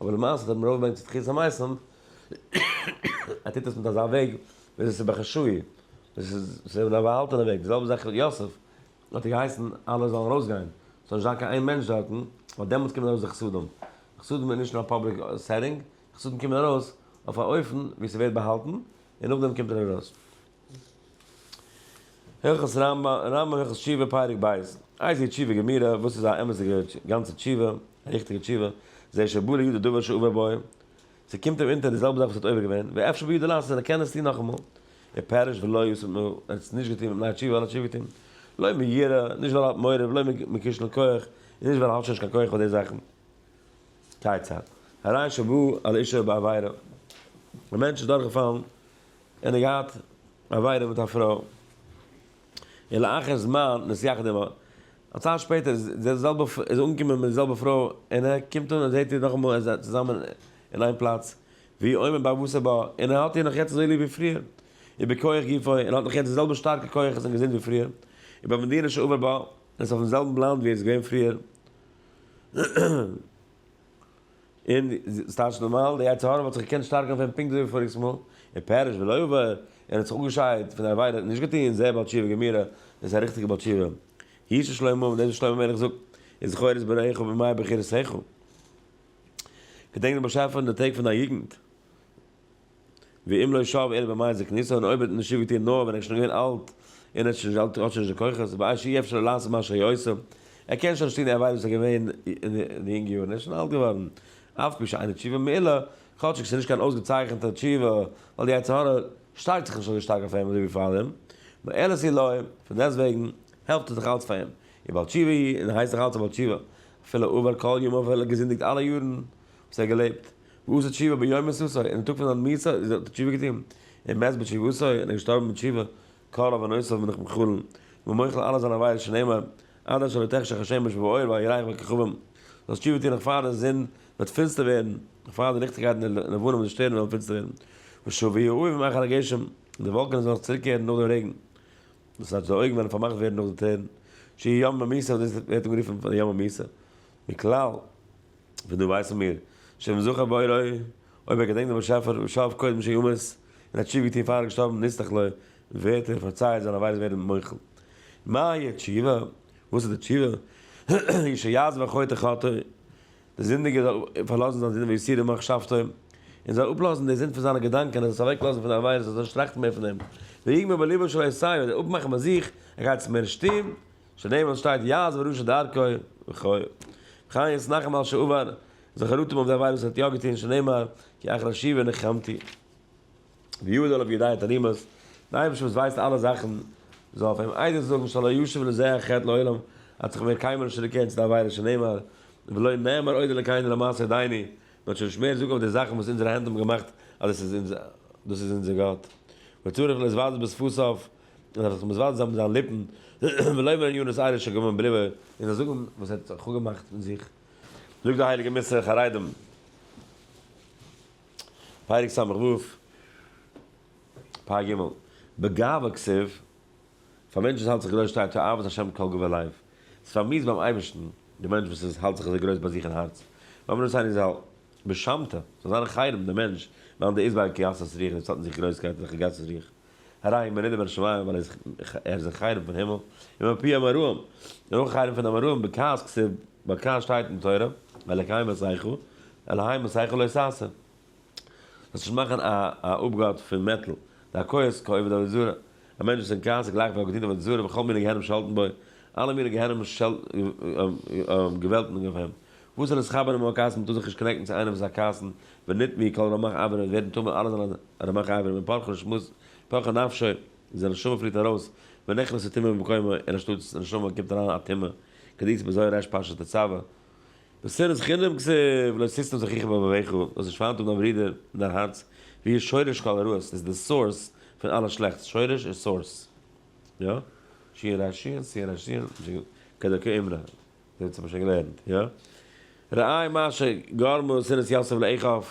אבער למעשה האט ער אים ארויפגעברענגט צו תחיית המתים, ער טוט עס מיט אזא וועג ווי אזוי ס'איז בחשאי, ווי אזוי ס'איז אין א באהאלטענע וועג. די זעלבע זאך יוסף, האט ער געהייסן אלע זאלן ארויסגיין, ס'זאל נישט זיין קיין איין מענטש דארטן, ווייל דעמאלטס קומען ארויס די חסדים. חסדים איז נישט אין א פאבליק סעטינג, חסדים קומען ארויס אויף א אופן ווי ס'ווערט באהאלטן, און נאכדעם קומט ער ארויס. הלכות רמב ם, רמב ם הלכות תשובה פרק ב', איי זי תשובה גמורה, וואס איז א אמת'דיגע גאנצע תשובה, א ריכטיגע תשובה, זה שבא לידי דבר שאובה בו, ס'קומט אים אונטער די זעלבע זאך וואס האט עובר געווען, ווי אפשר בידו לעשות, ער קען עס טון נאכאמאל, ער פעריש ולא יוסיף מ, ער האט עס נישט געטון מיט ניי תשובה, ווייל ער האט תשובה געטון, לא מיראה, נישט ווייל ער האט מורא, ולא מכשל כח, און נישט ווייל ער האט שוין נישט קיין כח פאר די זאכן. כיצד? הרי שבא על אישה בעבירה, א מענטש איז דורכגעפאלן און ער האט געהאט עבירה מיט א פרוי, און לאחר זמן נסיכת דעם האט א צייט שפעטער איז די זעלבע איז אנגעקומען מיט די זעלבע פרוי און ער קומט אן און זעט איר נאכאמאל איר זענט צוזאמען אין איין פלאץ ווי עומר בעבותא בה און ער האט איר נאך יעצט אזוי ליב ווי פריער איבער כח גופו און האט נאך יעצט די זעלבע שטארקע כוחות און געזונט ווי פריער און ביי מדינה שעבר בה און איז אויפן זעלבן לאנד ווי ער איז געווען פריער. און ס'טייטש נארמאל, די יצר הרע וואלט זיך געקענט שטארקן אויף אים פונקט אזוי ווי פאריגס מאל, און פרש ולא יעבור, און ער האט זיך אפגעשיידט פון די עבירה, און נישט געטון, זעה בעל תשובה גמרא, דאס איז א ריכטיגע בעל תשובה. הי' של שלמה, און דאס וואס שלמה המלך זאגט, איז זכור את בראיך בימי בחירותיך, געדענק דעם באשעפער אין די טעג פון דיין יוגנט. ואם לא שב אלא במאי זקניתו און אויב האט נישט שוב געטון נאר ווען ער איז שוין געווען אלט און האט שוין נישט האט שוין נישט די כוחות באי שאי אפשר לו לעשות מה שהיה עושה ער קען שוין נישט טון די עבירות וואס ער איז געווען אין די יונגע יארן ער איז שוין אלט געווארן אף פי שאינה תשובה מעילה כאטשיג ס'איז נישט קיין אויסגעצייכענטע תשובה ווייל די יצר הרע שטארקט זיך נישט אזוי שטארק אויף אים אזוי ווי פאר אים מעלה זי לו פון דעסט וועגן העלפט עס נאך אלץ פאר אים און בעל תשובה איז און הייסט נאך אלץ א בעל תשובה אפילו עבר כל ימיו אפילו ער האט געזינדיגט אלע יארן וואס ער האט געלעבט. ועשה תשובה ביום מסעו און אין טאג פון זיין מסע איז האט ער תשובה געטון און מת בתשובתו און ער איז געשטארבן מיט תשובה קל אויף ענותיו בין איך מחלן ומוחל אלע זיינע עוויות שנאמר עד אשר לא תחשך השמש באור ואל יראה כל כוכבים זאלסט תשובה טון נאך פאר די זון וועט פינסטער ווערן נאך פאר די ליכטיגקייט און די לבנה מיט די שטערן וועלן פינסטער ווערן ושוב יהיו אויבן אחר הגשם די וואלקענעס וועלן זיך צוריקקערן נאך דעם רעגן דאס הייסט די אויגן וועלן פארמאכט ווערן נאך די טרערן שיהי' יום המסעו דאס ווערט אנגערופן די יום המסעו מכלל. פון דא ווייסן מיר, שאם זכה בורא, אויב ער געדענקט דעם באשעפער ושאב קודם שימות, און האט תשובה געטון פאר ער איז געשטארבן נצטרך לו, ווערט ער פארצייעט זיינע עבירות ווערן מוחל. מהי התשובה? וואס איז די תשובה? היא שיעזוב החוטא חטאו, דער זינדיגער זאל פארלאזן זיין זינד ויסיר ממחשבתו, און זאל אפלאזן די זינד פון זיינע געדאנקען, ער זאל זיך אוועקלאזן פון די עבירות, ער זאל נישט טראכטן מער פון דעם, ויגמור בליבו שלא יסיר, און אפמאכן ביי זיך, ער גייט עס מער נישט טון, שנאי וואס שטייט יעז וראשית דרכו וכו'. וכן יעז נחם על שעבר זיך חרטום אויף די עבירות וואס ער האט יא געטון שנאמר כי אחר שיבה נחמתי ויעיד עליו ידי תענימות די אייבערשטער וואס ווייסט אלע זאכן זאל אויף אים עדות זאגן שלא ישוב לזה החטא לעולם האט זיך מער קיינמאל נישט צוריקגעקערט צו די עבירה שנאמר ולא נאמר עוד אלקינו לא מעשה ידינו מען זאל שוין נישט מער זאגן אויף די זאכן וואס אונזערע הענט האבן געמאכט אז דאס איז אונזער גאט וצריך לז וז בספוס אויף און ער זאל זיך מזוואלט זיין מיט זיינע ליפן, ולאמר עניו נשאר איש הגמון בליבו, און זאל זאגן וואס ער האט זיך אפגעמאכט מיט זיך. זאגט די הייליגע מס' חרדים, פרק ס' ו, פר' ג, בגאווה כסיל, פאר מענטש וואס האלט זיך גרויס שטייט תאוות השם כל גובה לב, ס'איז פארמיסט ביים אייבערשטן, די מענטש וואס איז האלט זיך אזוי גרויס ביי זיך אין הארץ, לאמר נשאר איש זאל בשמתו, זאל זיין חרם דער מענטש, וועלן די איזבאלקע גסות רוח נישט האלטן זיך גרויסקייט אין זיך גסות רוח. הרעים מרידים מן השמים ווייל ער איז ער איז זיך חרם פון הימל, און מפי אמראים און אויך חרם פון די אמראים בכעס כסב ווייל כעס שטייט אין תורה, אלקי מסייחו, אלהי מסייחו לא ששה. זאלסט נישט מאכן א א אפגאט פון מעטל, די הכעוס כעובד עבודה זרה, א מענטש וואס אין כעס איז גלייך ווי ער האט געטון עבודה זרה וכל מיני גיהנום שעלטן בו, אלע מיני גיהנום שעלטן געוועלטן אויף אים, וואס זענען די חברים אויף א קייס? מ'טאר זיך נישט קאנעקטן צו איינעם וואס איז א קייסן, ונתמי היא כל רמח אברים וואס ווערן טמא אלע זענען רמח אברים ווען פרחו נשמות פרחה נפשו איז די נשמה פליט ארויס ונכנס הטומאה במקומו און אנשטאט די נשמה קומט אריין א טומאה כדאיצ בזוהר רש פרשת תצוה בשנאת חינם כסף לא ששתם זכריך בלבביך דאס נישט פארהאן טוב דיין ברודער אין דיין הארץ ווי איז שורש כל הרעות איז די סאורס פון אלע שלעכטס שורש איז סאורס יא שיען רשיען שיען רשיען כדרכי אמונה. דערצו האב איך שוין געלערנט, יא? ראי' מה שגרמו שנאת יוסף לאחיו,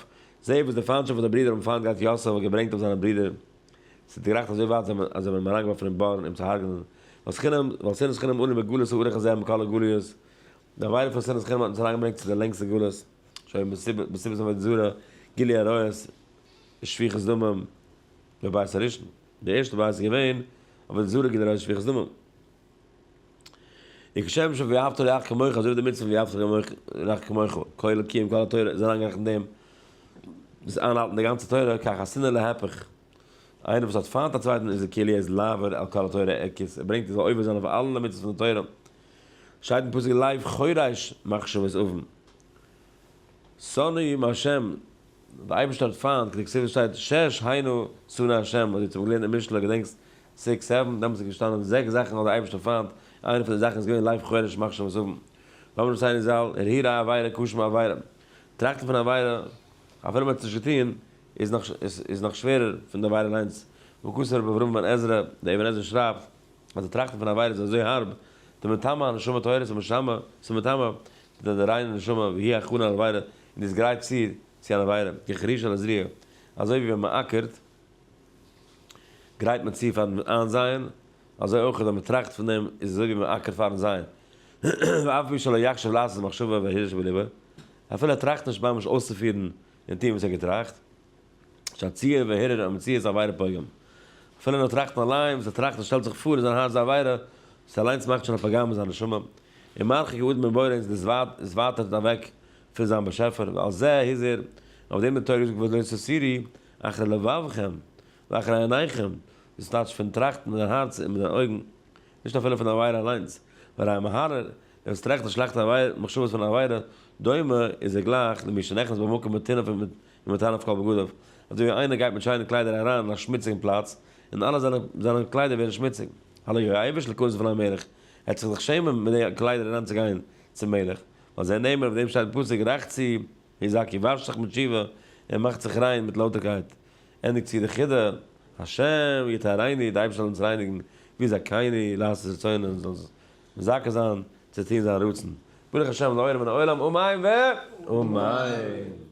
זעה וואס די פיינטשאפט וואס די ברידער האבן פיינט געהאט יוסף האט געברענגט אויף זיינע ברידער, עס האט גערייכט אזוי ווייט אז זיי האבן אים אריינגעווארפן אין בארן אים צו הרג'נען, ווייל חינם, ווייל שנאת חינם אנו בגלות האורך הזה עם כל הגלויות, די עבירה פון שנאת חינם האט אונז אריינגעברענגט צו די לענגסטע גלות, שוין מסיבת עבודה זרה, גילוי עריות, שפיכות דמים, בבית הראשון, די ערשטע בית איז געווען עבודה זרה גילוי עריות שפיכות דמים. און כשם ש ואהבת לרעך כמוך אזוי ווי די מצוה ואהבת לרעך כמוך כולל קיום כל התורה איז אריינגערעכנט אין דעם דאס איינהאלטן די גאנצע תורה כך השנאה להיפך איינער וואס האט פיינט א צווייטן איז די כלי איז לעבור על כל התורה ער כיס ער ברענגט ער זאל עובר זיין אויף אלע מצוות פון די תורה שטייט אין פסוק לב חורש מחשבות אבן שונאים השם די אייבערשטער האט פיינט כדכתיב וואס שטייט שש היינו שונא השם וואס דו האסט אמאל געלערנט אין משלי געדענקסט סיקס סעווען, דעמאלטס איז געשטאנען זעקס זאכן האט דער אייבערשטער פיינט, איינע פון די זאכן איז געווען לייב חורש מחשבות האבן, לאמיר דאס איינער זאל, הרהור א עבירה כשמה עבירה, טראכטן פון א עבירה אפילו מען האט עס נישט געטון איז נאך איז נאך שווערער פון די עבירה אליינס, וואו כסא רבי אברהם בן עזרא, דער אבן עזרא שרייבט אז די טראכטן פון א עבירה איז אזוי הארב, די מטמא הנשמה טהרת המשמה, ס'איז מטמא די ריינע נשמה, והיא הכנה לעבירה, און די איז גרייט צו צו אן עבירה, כחריש על הזריעה, אזוי ווי ווען מען אקערט, גרייט מען צו פארן איינזייען, אזוי אויך ווען מען טראכט פון דעם איז אזוי ווי מען אקערט פארן זייען, ואף מי שלא יחשוב לעשות מחשבה והרהוש בליבו, אפילו ער טראכט נישט ממש אויסצופירן און טון וואס ער האט געטראכט, שהציור וההרהור המוציא איז עבירה פוגם, אפילו נאר טראכטן אליין וואס ער טראכט און שטעלט זיך פאר אין זיין הארץ די עבירה, דאס אליינס מאכט שוין א פגם אין זיין נשמה, און מרחיק הוא עוד מבורא און עס ווייטערט אוועק פון זיין באשעפער, ועל זה הזהיר, אויף דעם האט די תורה געזאגט וואס דער סוסירי אחר לבבכם ואחר עיניכם, דאס טייטש פון טראכטן מיט דיין הארץ און מיט דיינע אויגן, נישט אפילו פון די עבירה אליינס, והרי המהרר, דער וואס טראכט און שלעכטע מחשבות פון א עבירה, דומה, איז ער גלייך, למי שנכנס במקום מטונף ומטנף כל בגדיו, אזוי ווי איינער גייט מיט שיינע קליידער אריין אין א שמוציגן פלאץ, און אלע זיינע זיינע קליידער ווערן שמוציג, הלא יראה עבש לכלות פני המלך, ער וועט זיך דאך שעמען מיט די קליידער אריינצוגיין צום מלך, ועל זה נאמר, אויף דעם שטייט אין פסוק, רחצי. ר' זאקי וואשט זיך מיט שיווע און מאכט זיך ריין מיט לויטערקייט, ענדיגט צו די חידה, השם יטהרני, די אייבערשטער זאל אונז רייניגן ווי זכייני לעשות רצונו און זאל אונז מזכה זיין צו טון זיין רצון, ברוך השם לעולם מן העולם אמן ואמן.